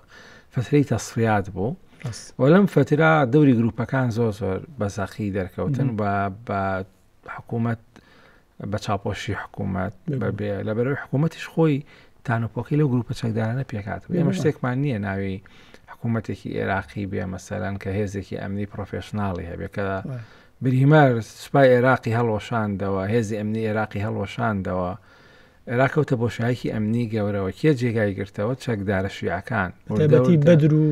فترەی تەسفیات بوو و لەم فترا دەوری گروپەکان زۆر زۆر بەزەقی دەرکەوتن و بە حکوومەت بە چاپۆشی حکوومەت بەبێ لە بەرەوەی حکوومەتیش خۆی تانوپۆکی لەو گروپە چەکدارانە پێکات ئێمە شتێکمان نییە ناوی حکوومەتێکی ئێراقی بێ مەسەرەن کە هێزێکی ئەمنی پرۆفشنناڵی هەبێت کە بریمەر سوپای ئێراقی هەڵوەشاندەوە، هێزی ئەمنی ئێراقی هەڵوەشاندەوە، ئێراق کەوتە بۆشایەکی ئەمنی گەورەوە، کێ جێگای گرتەوە؟ چەکدارە شیعەکان، بەتایبەتی بەدر و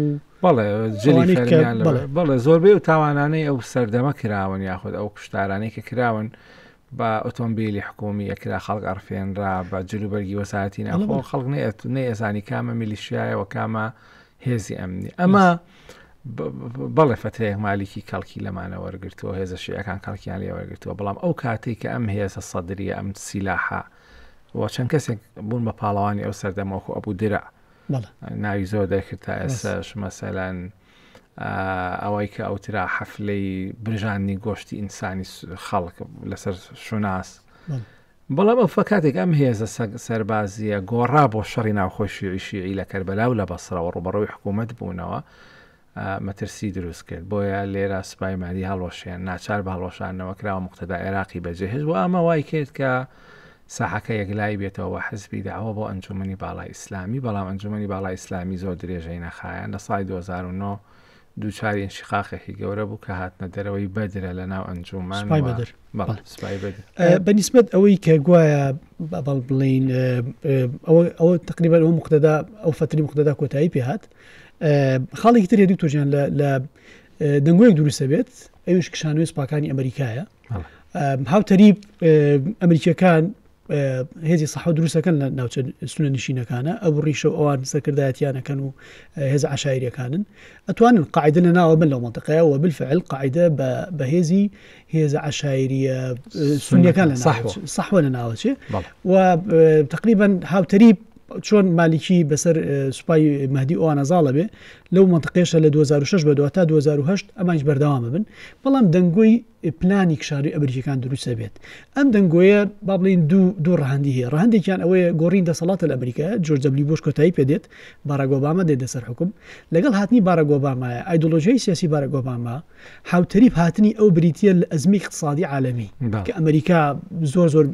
بەڵێ جلی ئەوانەی کە فەرمییان لە بەڵێ. بەڵێ زۆربەی ئەو تاوانانەی ئەو سەردەمە کراون یاخود ئەو کوشتارانەی کە کراون بە ئۆتۆمبیلی حکومی ئەکرا خەڵک ئەڕفێنرا بە جلوبەرگی وەساتی ناخۆ خەڵک نێت نێزانی کامە میلیشایەوە کامە هێزی ئەمنی ئەمە بەڵێ فترەیەک مالیکی کەڵکی لەمانە وەرگتووە هێزە شیعەکان کەڵکیان لێ وەرگتووە بەڵام ئەو کاتێک کە ئەم هێزە سەدرریە ئەم سیلاحە وە چەند کەسێک بوون بە پاڵەوانی ئەو سەردەمەوەخۆ ئەبوو درا ناوی زۆر دەکرد تا ئێستا شمەسەلەن ئەوەی کە ئەوترا حەفلەی برژاندنی گۆشتی ئینسانی خەڵک لەسەر شوناس بەڵام ئەو فکاتێک ئەم هێزە سەربازیە گۆڕا بۆ شەڕی ناوخۆی شیعی شیعی لە کەربەلا و لە بەسرەوە ڕوبەڕەوەی حکوومەت بوونەوە مەترسی دروست کرد بۆیە لێرە سوپای مادی هەڵۆشێن ناچار بە هەڵۆشانەوە کراوە مختدا عێراقی بەجێهێش و ئەمە وای کرد کە ساحەکە یەکلایی بێتەوە بە حزبی داوە بۆ ئەنجوومەنی باڵای ئیسلامی، بەڵام ئەنجوومەنی باڵای ئیسلامی زۆر درێژەی نەخایاند، لە ساڵی دوو هەزار و نۆ دووچاری ئینشیقاقێکی گەورە بوو کە هاتنە دەرەوەی بەدرە لە ناو ئەنجوومەن سوپای و بەدر بەڵێ بەڵێ. سوپای بەدر. ئە، بە نیسبەت ئەوەی کە گوایە بە بەڵ بڵێین ئە، ئە، ئەوە ئەوە تەقریبەن ئەو موقتەدا ئەو فەتری موقتەدا کۆتایی پێ هات. ئە، خاڵێکی تر هەیە دوکتۆر گیان لە لە ئە، دەنگۆیەک دروست ئەبێت ئەویش کشانەوەی سوپاکانی ئەمەریکایە. هاوتەریب ئەمریکیەکان هێزی سەح و دروستەکەن لە ناوچە سونە نشینەکانە ئەو ڕیشە و ئەوان سەکردایەتیانەکەن و هێز عشاعرەکانن ئەتوانن قاعدە لە ناوە بن لەو منطقەیە و بالفعل قاعدە بە هێزی هێزە عشاعریە سونیەکان لە سەحوە لە ناوچێ و تقریبا هاوتەریب چۆن مالیکی بەسەر سوپای مەهدی ئەوانە زاڵە بێ لەو منتقێشە لە 2006 بە دواتە 2010 ئەمانج بەردەوامە بن بەڵام دەنگۆی پلانی کشاری ئەمریکەکان دروستە بێت ئەم دەنگۆیە با بڵین دوو دوو ڕەهندی هەیە ڕەهندێکیان ئەوەیە گۆڕین دەسەڵاتە لە ئەمریکا جۆرجەبلی بۆش کۆتایی پێدێت باراگۆبامە دێت لەسەر حکوم لەگەڵ هاتنی باراگۆبامایە ئایدۆلۆژیای سیاسی باراگۆبامە حوتەریب هاتنی ئەو بریتە لە ئەزمی اقتصادی عالمی کە ئەمریکا زۆر زۆر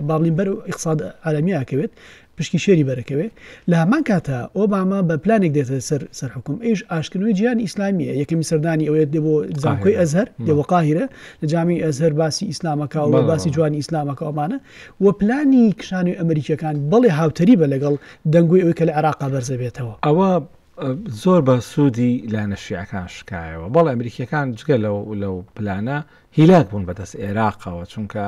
باڵین بەر اقتصاد عالمیکەوێت پشکی شێری بەرەکەوێ، لە هەمان کاتدا ئۆباما بە پلانێک دێتە سەر سەر حوکم، ئەویش ئاشتکردنەوەی جیهانی ئیسلامییە، یەکەمین سەردانی ئەوێت دێ بۆ زانکۆی ئەزهەر، دێ بۆ قاهیرە، لە جامی ئەزهەر باسی ئیسلام ئەکا و باسی جوانی ئیسلام ئەکا و ئەمانە و پلانی کشانەوەی ئەمریکییەکان، بەڵێ هاوتەریبە لەگەڵ دەنگۆی ئەوەی کە لە عێراقا بەرز ئەبێتەوە. ئەوە زۆر بە سوودی لایەنە شیعەکان شکایەوە، بەڵێ ئەمریکییەکان جگە لەو لەو پلانە هیلاک بوون بەدەست ئێراقەوە، چونکە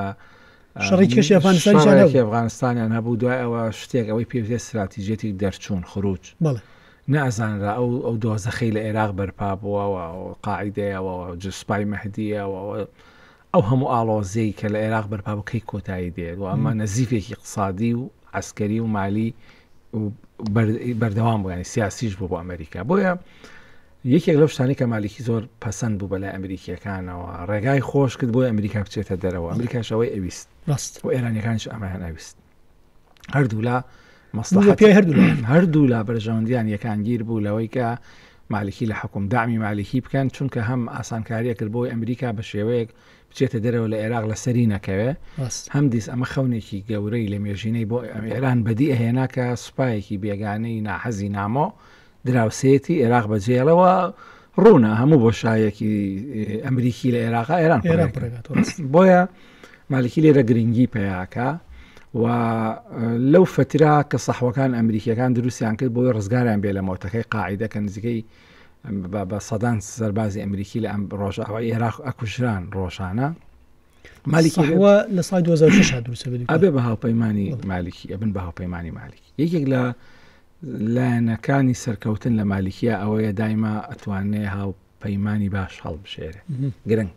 شەڕی کەشی ئەفغانستان شەڕێکی ئەفغانستانیان هەبوو دوای ئەوە شتێک ئەوەی پێوتێ استراتیژێتی دەرچوون خروج نەزانرا ئەو ئەو دۆزەخی لە عێراق بەرپا بووەوە قاعدەیەوە جسپای مەهدیەوە ئەو هەموو ئاڵۆزەی کە لە عێراق بەرپا بکەی کۆتایی دێت و ئەمە نەزیفێکی اقتصادی و عسکەری و مالی بەردەوام بوویانی سیاسیش بوو بۆ ئەمریکا بۆیە یەکێک لەو شتانەی کە مالیکی زۆر پەسەند بوو بەلای ئەمریکییەکانەوە، ڕێگای خۆش کرد بۆی ئەمریکا بچێتە دەرەوە، ئەمریکاش ئەوەی ئەویست و ئێرانییەکانیش ئەمەیان ئەویست. هەردوولا مەسڵەحەت پێی هەردوو هەردوولا بەرژەوەندیان یەکانگیر بوو لەوەی کە مالیکی لە حکوم دامی مالیکی بکەن، چونکە هەم ئاسانکارییە کرد بۆی ئەمریکا بە شێوەیەک بچێتە دەرەوە لە عێراق لەسەری نەکەوێ، هەم دیس ئەمە خەونێکی گەورەی لە مێژینەی بۆ ئێران بەدی ئەهێنا کە سوپایەکی بێگانەی ناحەزی نامۆ دراوسێیەتی ئێراق بەجێڵە و ڕوونە هەموو بۆشایەکی ئەمریکی لە ئێراقا ئێران ئێران پڕێگات بۆیە مالکی لێرە گرنگی پیاکە و لەو فترا کە سەحوەکان ئەمریکیەکان دروستیان کرد بۆی ڕزگاریان بێ لە مۆتەکەی قاعدە کە نزیکەی بە سەدان سەربازی ئەمریکی لە ئەم ڕۆژاوە عێراق ئەکوژران ڕۆژانە مالیکیوە لە سای 2006 دروستەبێ بە هاوپەیمانانی مالیکی ئەبن بە هاوپەیمانانی مالیک یەکێک لە لایەنەکانی سەرکەوتن لە مالیکیا ئەوەیە دایمە ئەتوانێ هاو پەیمانانی باش هەڵبژێرێ گرنگ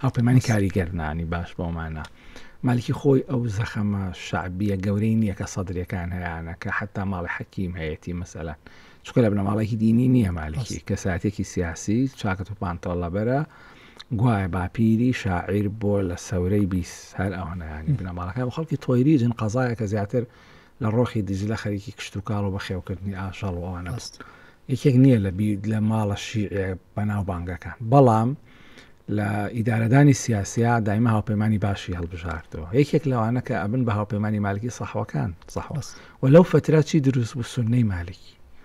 هاوپەیمانانی کاریگەرنانی باش بۆمانە مالکی خۆی ئەو زەخەمە شعبیە گەورەی نییە کە سەدرەکان هەیەە کە حتا ماڵی حەکیم هەیەی مەسەلا چکە لە بنەماڵێکی دینی نییە مالکی کەساتێکی سیاسی چاکەت و پانتۆڵەبەرە گوایە باپیری شاعیر بۆ لە سەورەی بیست هەر ئەوانیانی بنەماڵەکان خەڵکی تۆیریجن قەزایە کە زیاتر لە ڕۆخی دیجلە خەریکی کشت و کاڵ و بەخێوکردنی ئاژەڵ و ئەوانە بست یەکێک نییە لە بید لە ماڵە شیعە بەناو بانگەکان بەڵام لە ئیدارەدانی سیاسیا دایمە هاوپەیمانانی باشی هەڵبژاردەوە یەکێک لەوانە کە ئەبن بە هاوپەیمانانی مالکی سەحوەکان سەحوەس و لەو فتراتی دروست بوو سنەی مالکی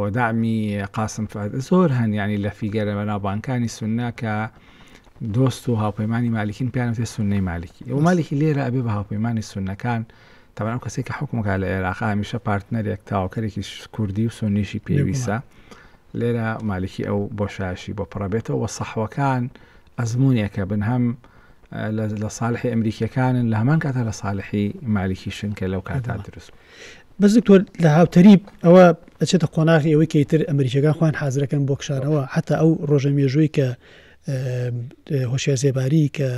و دەعمی قاسم فهد زۆر هەن یانی لە فیگەرە بەناوبانکانی سوننە کە دۆست و هاوپەیمانی مالیکین پیان وتێ سوننەی مالیکی و مالیکی لێرە ئەبێ بە هاوپەیمانی سوننەکان تەبەن ئەو کەسێک کە حکومەکە لە عێراق هەمیشە پارتنەرێک تاوکەرێکی کوردی و سوننیشی پێویستە لێرە مالیکی ئەو بۆشایشی بۆ پڕەبێتەوە وە سەحوەکان ئەزمونێکە بن هەم لە ساالحی ئەمریکیەکانن لە هەمان کاتە لە ساالحی مالیکیشن کە لەو کاتا دروست بەس دکتۆر لە هاوتەریب ئەوە ئەچێتە قۆناغی ئەوەی کەیتر ئەمریکەکان خوان حازرەکەن بۆ کشارەوە حتا ئەو ڕۆژە مێژووی کە هۆشیار زێباری کە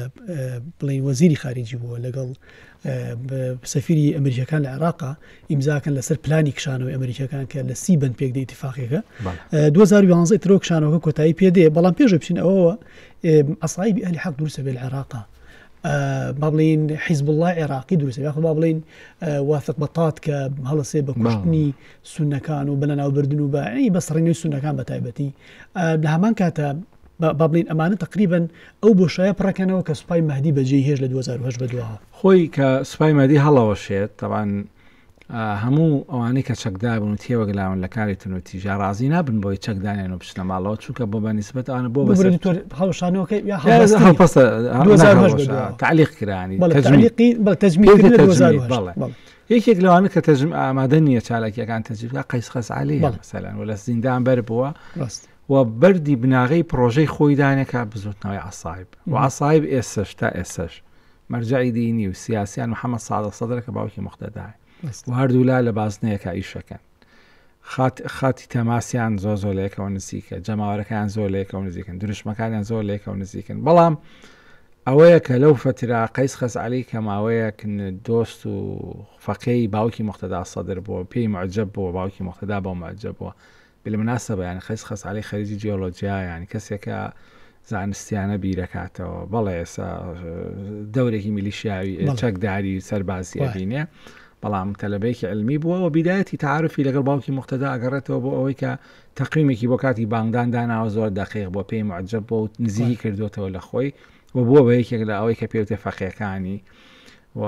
بڵین وەزیری خارجی بووە لەگەڵ سەفیری ئەمریکیەکان لە عێراقا ئیمزاکەن لەسەر پلانی کشانەوەی ئەمریکیەکان کە لە سی بن پێک دەیتیفاقێکە 2011 ترۆ کشانەوەکە کۆتایی پێدێ بەڵام پێش بچین ئەوەوە ئەسایبی ئەلی حەق دروستە بێ لە عێراقا با بڵین حیزب الله عێراقی دروست یاخ با بڵین وافق بەتات کە هەڵسێ بە کوشتنی سونەکان و بەە ناوبردن و بە بەسڕینەوەی سونەکان بە تایبەتی لە هەمان کاتە با بڵێین ئەمانە تەقریبەن ئەو بۆشایە پڕەکەنەوە کە سوپای مەهدی بەجێی هێشت لە دوو هەزار و هەشت بەدواوە. خۆی کە سوپای مەهدی هەڵەوەشێت، تەبعەن هەموو ئەوانەی کە چەکداربوون و تێوەگلاون لە کاری تونوتیژە ڕازی نابن بۆی چەک دانێن و بچنە ماڵەوە چونکە بۆ بەنیسبەت ئەوانە بۆ بەسەر ببرێت تۆ هەڵوەشانەوەکەی یا هەڵبەست هەڵ هەڵپەستە هەڵ دوو هەزار و هەشت نەهەڵوەشا بەدواوە. تعلیق کرانی بەڵێ تەجمیل. تەعلیقی بەڵێ تەجمیل پێی کردن لە دوو هەزار و تەجمیل، هەشت. بەڵێ. بەڵێ. یەکێک لەوانە کە تەجم ئامادە نییە چالاکیەکان تەجوید بکات قەیس خەسعەلیە بەڵێ. مەسەلەن و لە زیندان بەر بووە ڕاست. و بەردی بناغەی پڕۆژەی خۆی دانێ کە بزووتنەوەی عەسایب و عەسایب ئێستەش تا ئێستەش مەرجەعی دینی و سیاسیان محەممەد سادق سەدرە کە باوکی موقتەدایە و هەردوولا لە بازنەیەکە ئیشەکەن خات خاتی تەماسیان زۆر زۆر لەیەکەوە نزیکە جەماوەرەکان زۆر لەیەکەوە نزیکن دروشمەکانیان زۆر لەیەکەوە نزیکن بەڵام ئەوەیە کە لەو فەترا قەیس خەس علی کە ماوەیەک دۆست و فەقەی باوکی مختدا سەدر بووە پێی معجب بووە باوکی مختدا بۆ معجب بووە بالمناسبە یانی قەیس خەسعەلی خەریجی جیۆلۆجیا یانی کەسێکە زانستیانە بیرەکاتەوە بەڵێ ئێسا دەورێکی میلیشیاوی چەکداری سەربازی ئەبینێ بەڵام تەلبەیەکی علمی بووە و بیدایەتی تعاعرفی لەگەڵ باوکی مختدا ئەگەڕێتەوە بۆ ئەوەی کە تەقیمێکی بۆ کاتی بانگدان داناوە زۆر دەقیق بۆ پێی معجب بۆ نزیکی کردوێتەوە لە خۆی و بووە بە یەکێک لە ئەوەی کە پێوتێ فەقیەکانی و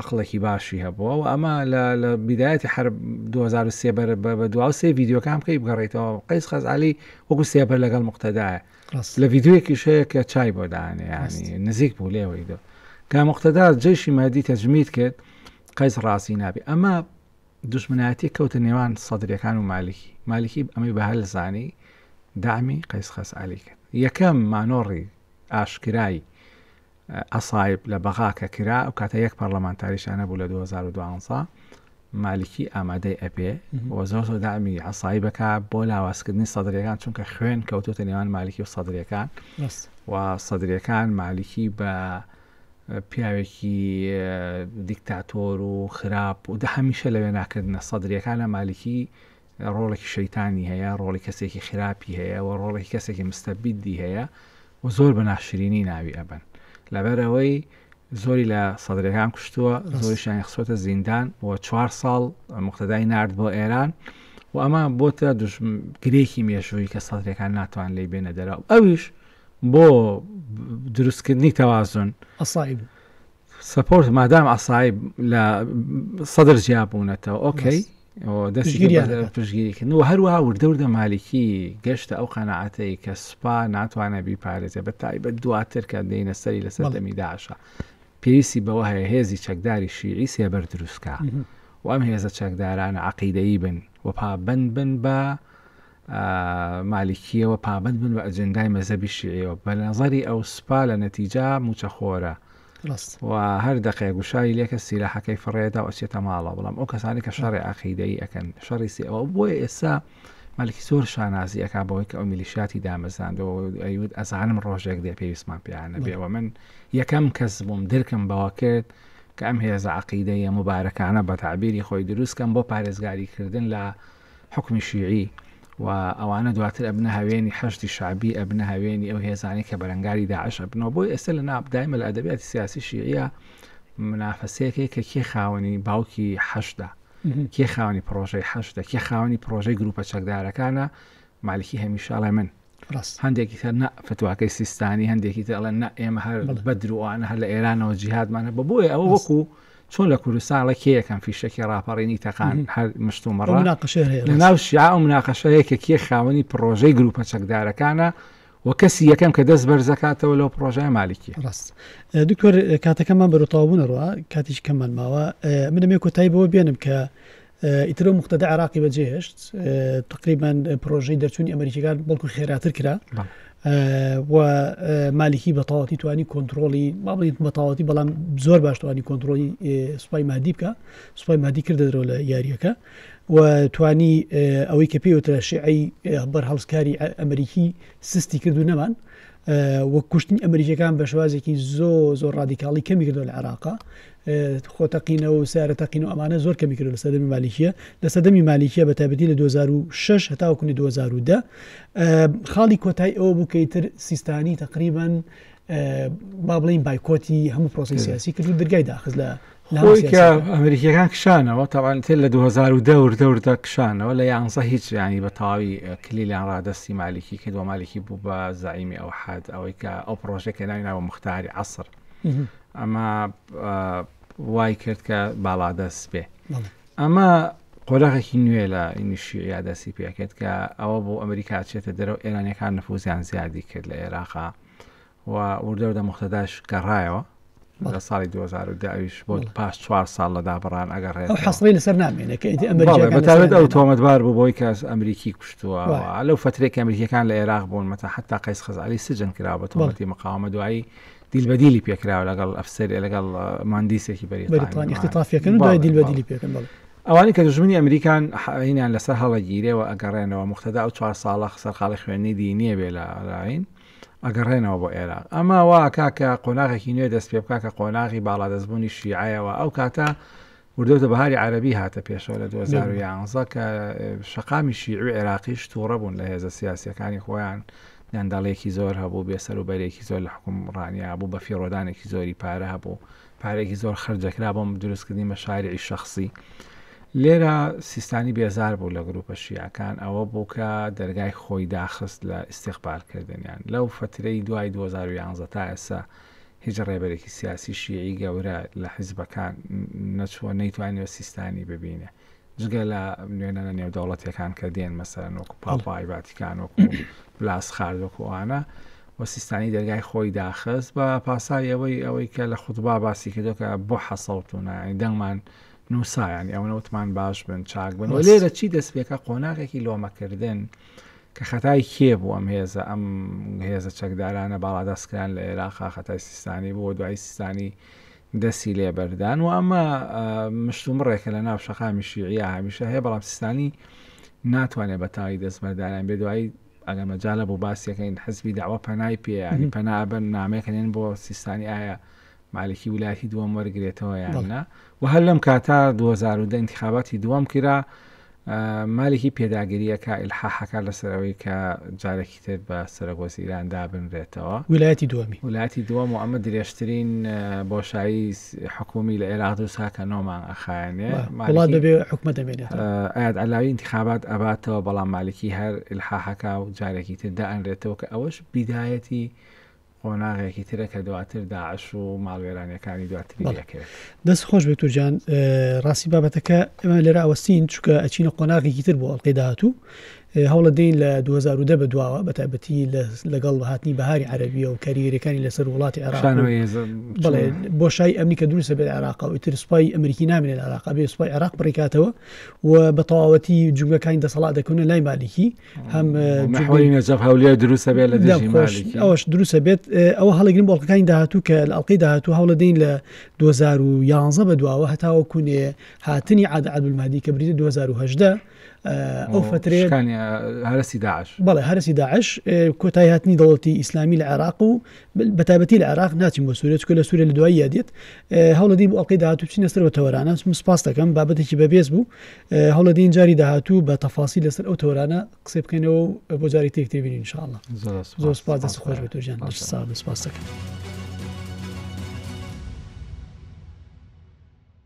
عەقڵێکی باشی هەبووە و ئەمە لە لە بیدایەتی حرب 2023 بەر بە دوا سێ ڤیددیوکان بکەی بگەڕیتەوە قیس خەزعلی وەکو سێبەر لەگەڵ مقتەدایە لە ڤیددیوەکی شەیە کە چای بۆ دانێیانی نزیک بوو لێەوەی دۆ کە مقتەدا جێشی مادی تەجمیت کرد قیس ڕاستی نابی ئەمە دوشمنایەتی کەوتە نێوان سەدرەکان و مالکی مالکی ئەمەی بە هەلزانی دامی قیس خەسعلی کرد یەکەم مانۆڕی ئاشکرایی عەسایب لە بەغا کە کرا ئەو کاتە یەک پەرلەمانتاریشا نەبوو لە دوو هەزار و دوازدە مالیکی ئامادەی ئەبێ و زۆر زۆر دامی عەسایی بکە بۆ لاوازکردنی سەدرەکان چونکە خوێن کەوتوتە نێوان مالیکی و سەدرەکان و سەدرەکان مالیکی بە پیاوێکی دیکتاتۆر و خراپ و دە هەمیشە لەوێ ناکردنە سەدرەکان لە مالیکی ڕۆڵێکی شەیتانی هەیە، ڕۆڵی کەسێکی خراپی هەیە و ڕۆڵێکی کەسێکی مستەبیدی هەیە و زۆر بە ناشرینی ناوی ئەبەن. لەبەرەوەی زۆری لە سەدرەکان کوشتووە، زۆریشیان خسۆتە زیندان و چوار ساڵ مختدای نرد بۆ ئێران و ئەمە بۆتە گرێکی مێژووی کە سەدرەکان ناتوان لی بێنە دەرا و ئەویش بۆ دروستکردنی تەوازن ئەسایب سپۆرت مادام ئەسایب لە سەدر جیابوونەتەوە ئۆکەی پشگیریکردن و هەروە وردەوردە مالکی گەشتە ئەو قەنەعاتەی کە سوپا ناتوانە بیپارێزێ بە تایبەت دواتر کە دێنە سەری لە سەردەمی داشە پێویستی بەوە هەیە هێزی چەکداری شیعی سێبەر دروستکە و ئەم هێزە چەکدارانە عقیدەیی بن و پابند بن بە مالیکیەوە پابەند بن بە ئەجندای مەزەبی شیعەوە بەنەزەری ئەو سپا لە نەتیجا موچەخۆرە و هەر دەقێ گوشاری لێکە سیلاحەکەی فڕێدا و ئەچێتە ماڵە بەڵام ئەو کەسانی کە شەڕی عقیدەی ئەەکەن شەڕی سی ئەوە بۆیە ئێستا مالکی زۆر شانازی ئەک بۆی کە ئەو میلیشاتی دامەزاندەوە ئەیود ئەزانم ڕۆژێک دێ پێویستمان پیانە بێەوە من یەکەم کەس بووم درکم بەوە کرد کە ئەم هێزە عقیدەیە مبارەکانە بە تعبیری خۆی دروستکەم بۆ پارێزگاریکردن لە حوکمی شیعی و ئەوانە دواتر ئەبنە هاوێنی حەشدی شەعبی ئەبنە هاوێنی ئەو هێزانەی کە بەرەنگاری داعش ئەبنەوە بۆی ئێستا لە ناو دایمە لە ئەدەبیاتی سیاسی شیعە منافەسەیەکەی کە کێ خاوەنی باوکی حەشدا کێ خاوەنی پرۆژەی حەشدا کێ خاوەنی پرۆژەی گروپە چەکدارەکانە مالکی هەمیشە ئەڵێ من ڕاست هەندێکی تر نە فتواکەی سیستانی هەندێکی تر ئەڵێن نە ئێمە هەر بەڵێ. بەدروانە هەر لە ئێرانەوە جیهادمانە بە بۆیە ئەوە ڕاست. وەکو چۆن لە کوردستان ئەڵێ کێ یەکەم فیشەکی ڕاپەڕینی تەقان مهم. هەر مشت و ئەو مەڕە مناقەشەیە هەیە لە ڕاست ناو شیعە ئەو مناقەشە هەیە کە کێ خاوەنی پڕۆژەی گرووپە چەکدارەکانە و کەسی یەکەم کە دەست بەرز دەکاتەوە لەو پڕۆژەیە مالکیە ڕاست ئە، دکتۆر ئە، کاتەکەمان بەرەو تەواوبوونەڕوە کاتیش کەممان ماوە ئە، من ئەمێ کۆتایی بەوە بێنم کە ئیتر ئەو مقتەدە عێراقی بەجێهێشت تقریبان پرۆژەی دەرچوونی ئەمریکیەکان بەڵکو خێراتر کرا و مالیکی بەتەواتی توانی کۆنتترۆلی مابیت بەتەواتی بەڵام زۆر باشتوانی کۆنتترۆلی سوپای مادی بکە سوپای مادی کردە درۆ لە یاریەکە و توانی ئەوەی کە پێوترە شعی بەر هەڵسکاری ئەمریکی سستی کردو نەمان وە کوشتنی ئەمریکەکان بە شوازێکی زۆ زۆر ڕادیکاڵی کەمی کردو لە عراقا خۆ تەقینەوە و سەیارە تەقینەوە ئەمانە زۆر کەمی کردووە لە سەردەمی مالیکیە لە سەردەمی مالیکیە بە تایبەتی لە 2006 هەتاوە کونی 2010 خاڵی کۆتای ئەوە بوو کەی تر سیستانی تقریبان با بڵین بایکۆتی هەموو پرۆسی سیاسی کرد و دەرگای داخز لە ئەمریکیەکان کشانەوە تاوان تێ لە 2010 دەوردا کشانەوە لە یانزە هیچ ینی بە تەواوی کلیلیان ڕادستی مالیکی کردوە مالیکی بوو بە زعیمی ئەو حد ئەوەی کە ئەو پرۆژێکە ناوی ناوە مختاری عسر ئەمە وای کرد کە باڵادەست بێ ئەمە قۆراغێکی نوێ لە ئینیشی یادەسی پێکرد کە ئەوە بۆ ئەمریکا چێتە دەرەوە ئێرانەکان نفوزیان زیادی کرد لە عێراقا و وردەوردە مختداش گەڕایەوە لە ساڵی 2010 بۆ پاش چوار ساڵ لە دابڕان ئەگەر ڕێ حەسڵی لەسەر نامێنێت ئەمریکاێت ئەو تۆمەت بار بوو بۆی کەس ئەمریکی کوشتووە لەو فترێک ئەمریکیەکان لە عێراق بوون مەتا حتا قەیس خزاری سجن کرا بە تۆمەتی مقاومە دوایی دیل بە دیلی پێکراوە لەگەڵ ئەفسەر لەگەڵ ماندیسێکی بەریتانی اختطافیەکەن دوای دیل بە دیلی پێکن بڵ ئەوانی کە دژمنی ئەمریکان حینیان لەسەر هەڵەگیرێەوە ئەگەڕێنەوە مختدا ئەو چوار ساڵە خسەرخاڵی خوێنی دی نییە بێ لە ڕاین ئەگەڕێنەوە بۆ ئێران ئەما واکە کە قۆناغێکی نوێ دەست پێ بکە کە قۆناغی باڵا دەستبوونی شیعایەوە ئەو کاتە وردەوردە بەهاری عەرەبی هاتە پێشەوە لە دوو هەزار و یانزە کە شەقامی شیعی و عێراقیش تووڕە بوون لە هێزە سیاسیەکانی خۆیان گەندەڵێکی زۆر هەبوو بێسەر و بەرێکی زۆر لە حکوم ڕانیا بوو بە فیڕۆدانێکی زۆری پارە هەبوو پارێکی زۆر خرجەکرا بۆم دروستکردنی مە شاریعی شخصی لێرە سیستانی بێزار بوو لە گروپە شیعەکان ئەوە بوو کە دەرگای خۆی داخست لە ئیسیقبالکردنیان لەو فترەی دوای 2011 تا ئێسا هیچ ڕێبەرێکی سیاسی شیعی گەورە لە حیزبەکان نەچووە نەیتوانیوە سیستانی ببینێ جگە لە نوێنەرە نێودەوڵەتەکان کە دێن مەسەرەن وەکو پاپای ڤاتیکان وەکو بلاس خارد وەکو ئەوانە و سیستانی دەرگای خۆی داخست بە پاسای ئەوەی ئەوەی کە لە خودبا باسی کردو کە بۆ حەسەڵتونە دەنگمان نووسایانی ئەوەوتمان باش بن چاک بن لێرە چی دەست پێکە قۆناغێکی لۆمەکردن. کە خەتای کێ بوو ئەم هێزە ئەم هێزە چەکدارانە باڵادەست کران لە عێراقا خەتای سیستانی بووە دوای سیستانی دەسی لێبەردان و ئەمە مشتومڕێکە لە ناو شەقامی شیعە هەمیشە هەیە بەڵام سیستانی ناتوانێت بە تاوی دەستمەردانیان بێ دوایی ئەگەر مەجالە بۆ باسیەکەین حزبی داوە پەنای پێیانی پەنابەر نامێکەێن بۆ سیستانی ئایا مالکی ولایەتی دووەم وەرگرێتەوە یان نا و هەر لەم کاتا 2010 انتخاباتی دووەم کرا مالکی پێداگریەکە ئلحاحەکە لەسەرەوەی کە جارێکی تر بە سەرگۆز ئیران دابنرێتەوە ولایەتی دووەمی ولایەتی دووەم و ئەمە درێژترین بۆشایی حکومی لە عێراق و ساکە نۆمان ئەخایانێ وڵات دەبێ حکومە دەمێنێت ئاات علاوی انتخابات ئەباتەوە بەڵام مالکی هەر ئلحاحەکە و جارێکی تر دائەنرێتەوە کە ئەوەش بیدایەتی قۆناغێکی ترە کە دواتر داعش و ماڵوێرانەکانی دواتری دەکرێت دەست خۆش بێت و جان ڕاستی بابەتەکە ئەمە لێرە ئەوەستین چکە ئەچینە قۆناغێکی تر بۆ ئەڵلقەی داهاتوو هەوڵە دەین لە 2010 بە دواوە بە تایبەتی لەگەڵ هاتنی بەهاری عربیە و کاریگەریەکانی لەسەر وڵاتی عێراق بڵێ بۆ شای ئەمنی کە دروستە بێت عراق و تر سوپای ئەمریکی نامێنێت عراق بێ سوپای عراق بڕیکاتەوە و بە تەواوەتی جوگەکانی دەسەڵات دەکەونە لای مالیکی هەم نەحوی نەجەف هەولێر دروستە بێت لە دژی مالکی ئەوش دروستە بێت ئەوە هەڵگرین بەڵکەکانی داهاتوو کە لە ئەڵلقەی داهاتوو هەوڵە دەین لە 2011 بە دواوە هەتاوە کوونێ هاتنی عادە عادولمادی کە بریدە 2010 ئەو فترێ هەرسی داعش بەڵێ هەرسی داعش کۆتای هاتنی دەوڵەتی ئیسلامی لە عێراق و بەتابەتی لە عێراق ناچین بۆ سوورێت کە لە سوورە لە دوایی یادێت هەوڵەدی بۆ ئەڵلقەی داهاتوو چینە سەر بە تەوەرانە سپاس دەکەم بابەتێکی بەبێز بوو هەوڵە دین جاری داهاتوو بە تەفاسی لەسەر ئەو تۆرانە قسەی بکەینەوە بۆ جاری تێک تێبین انشاءله زۆر سپاس دەست خۆش بێت و ژیان سپاس دەکەم.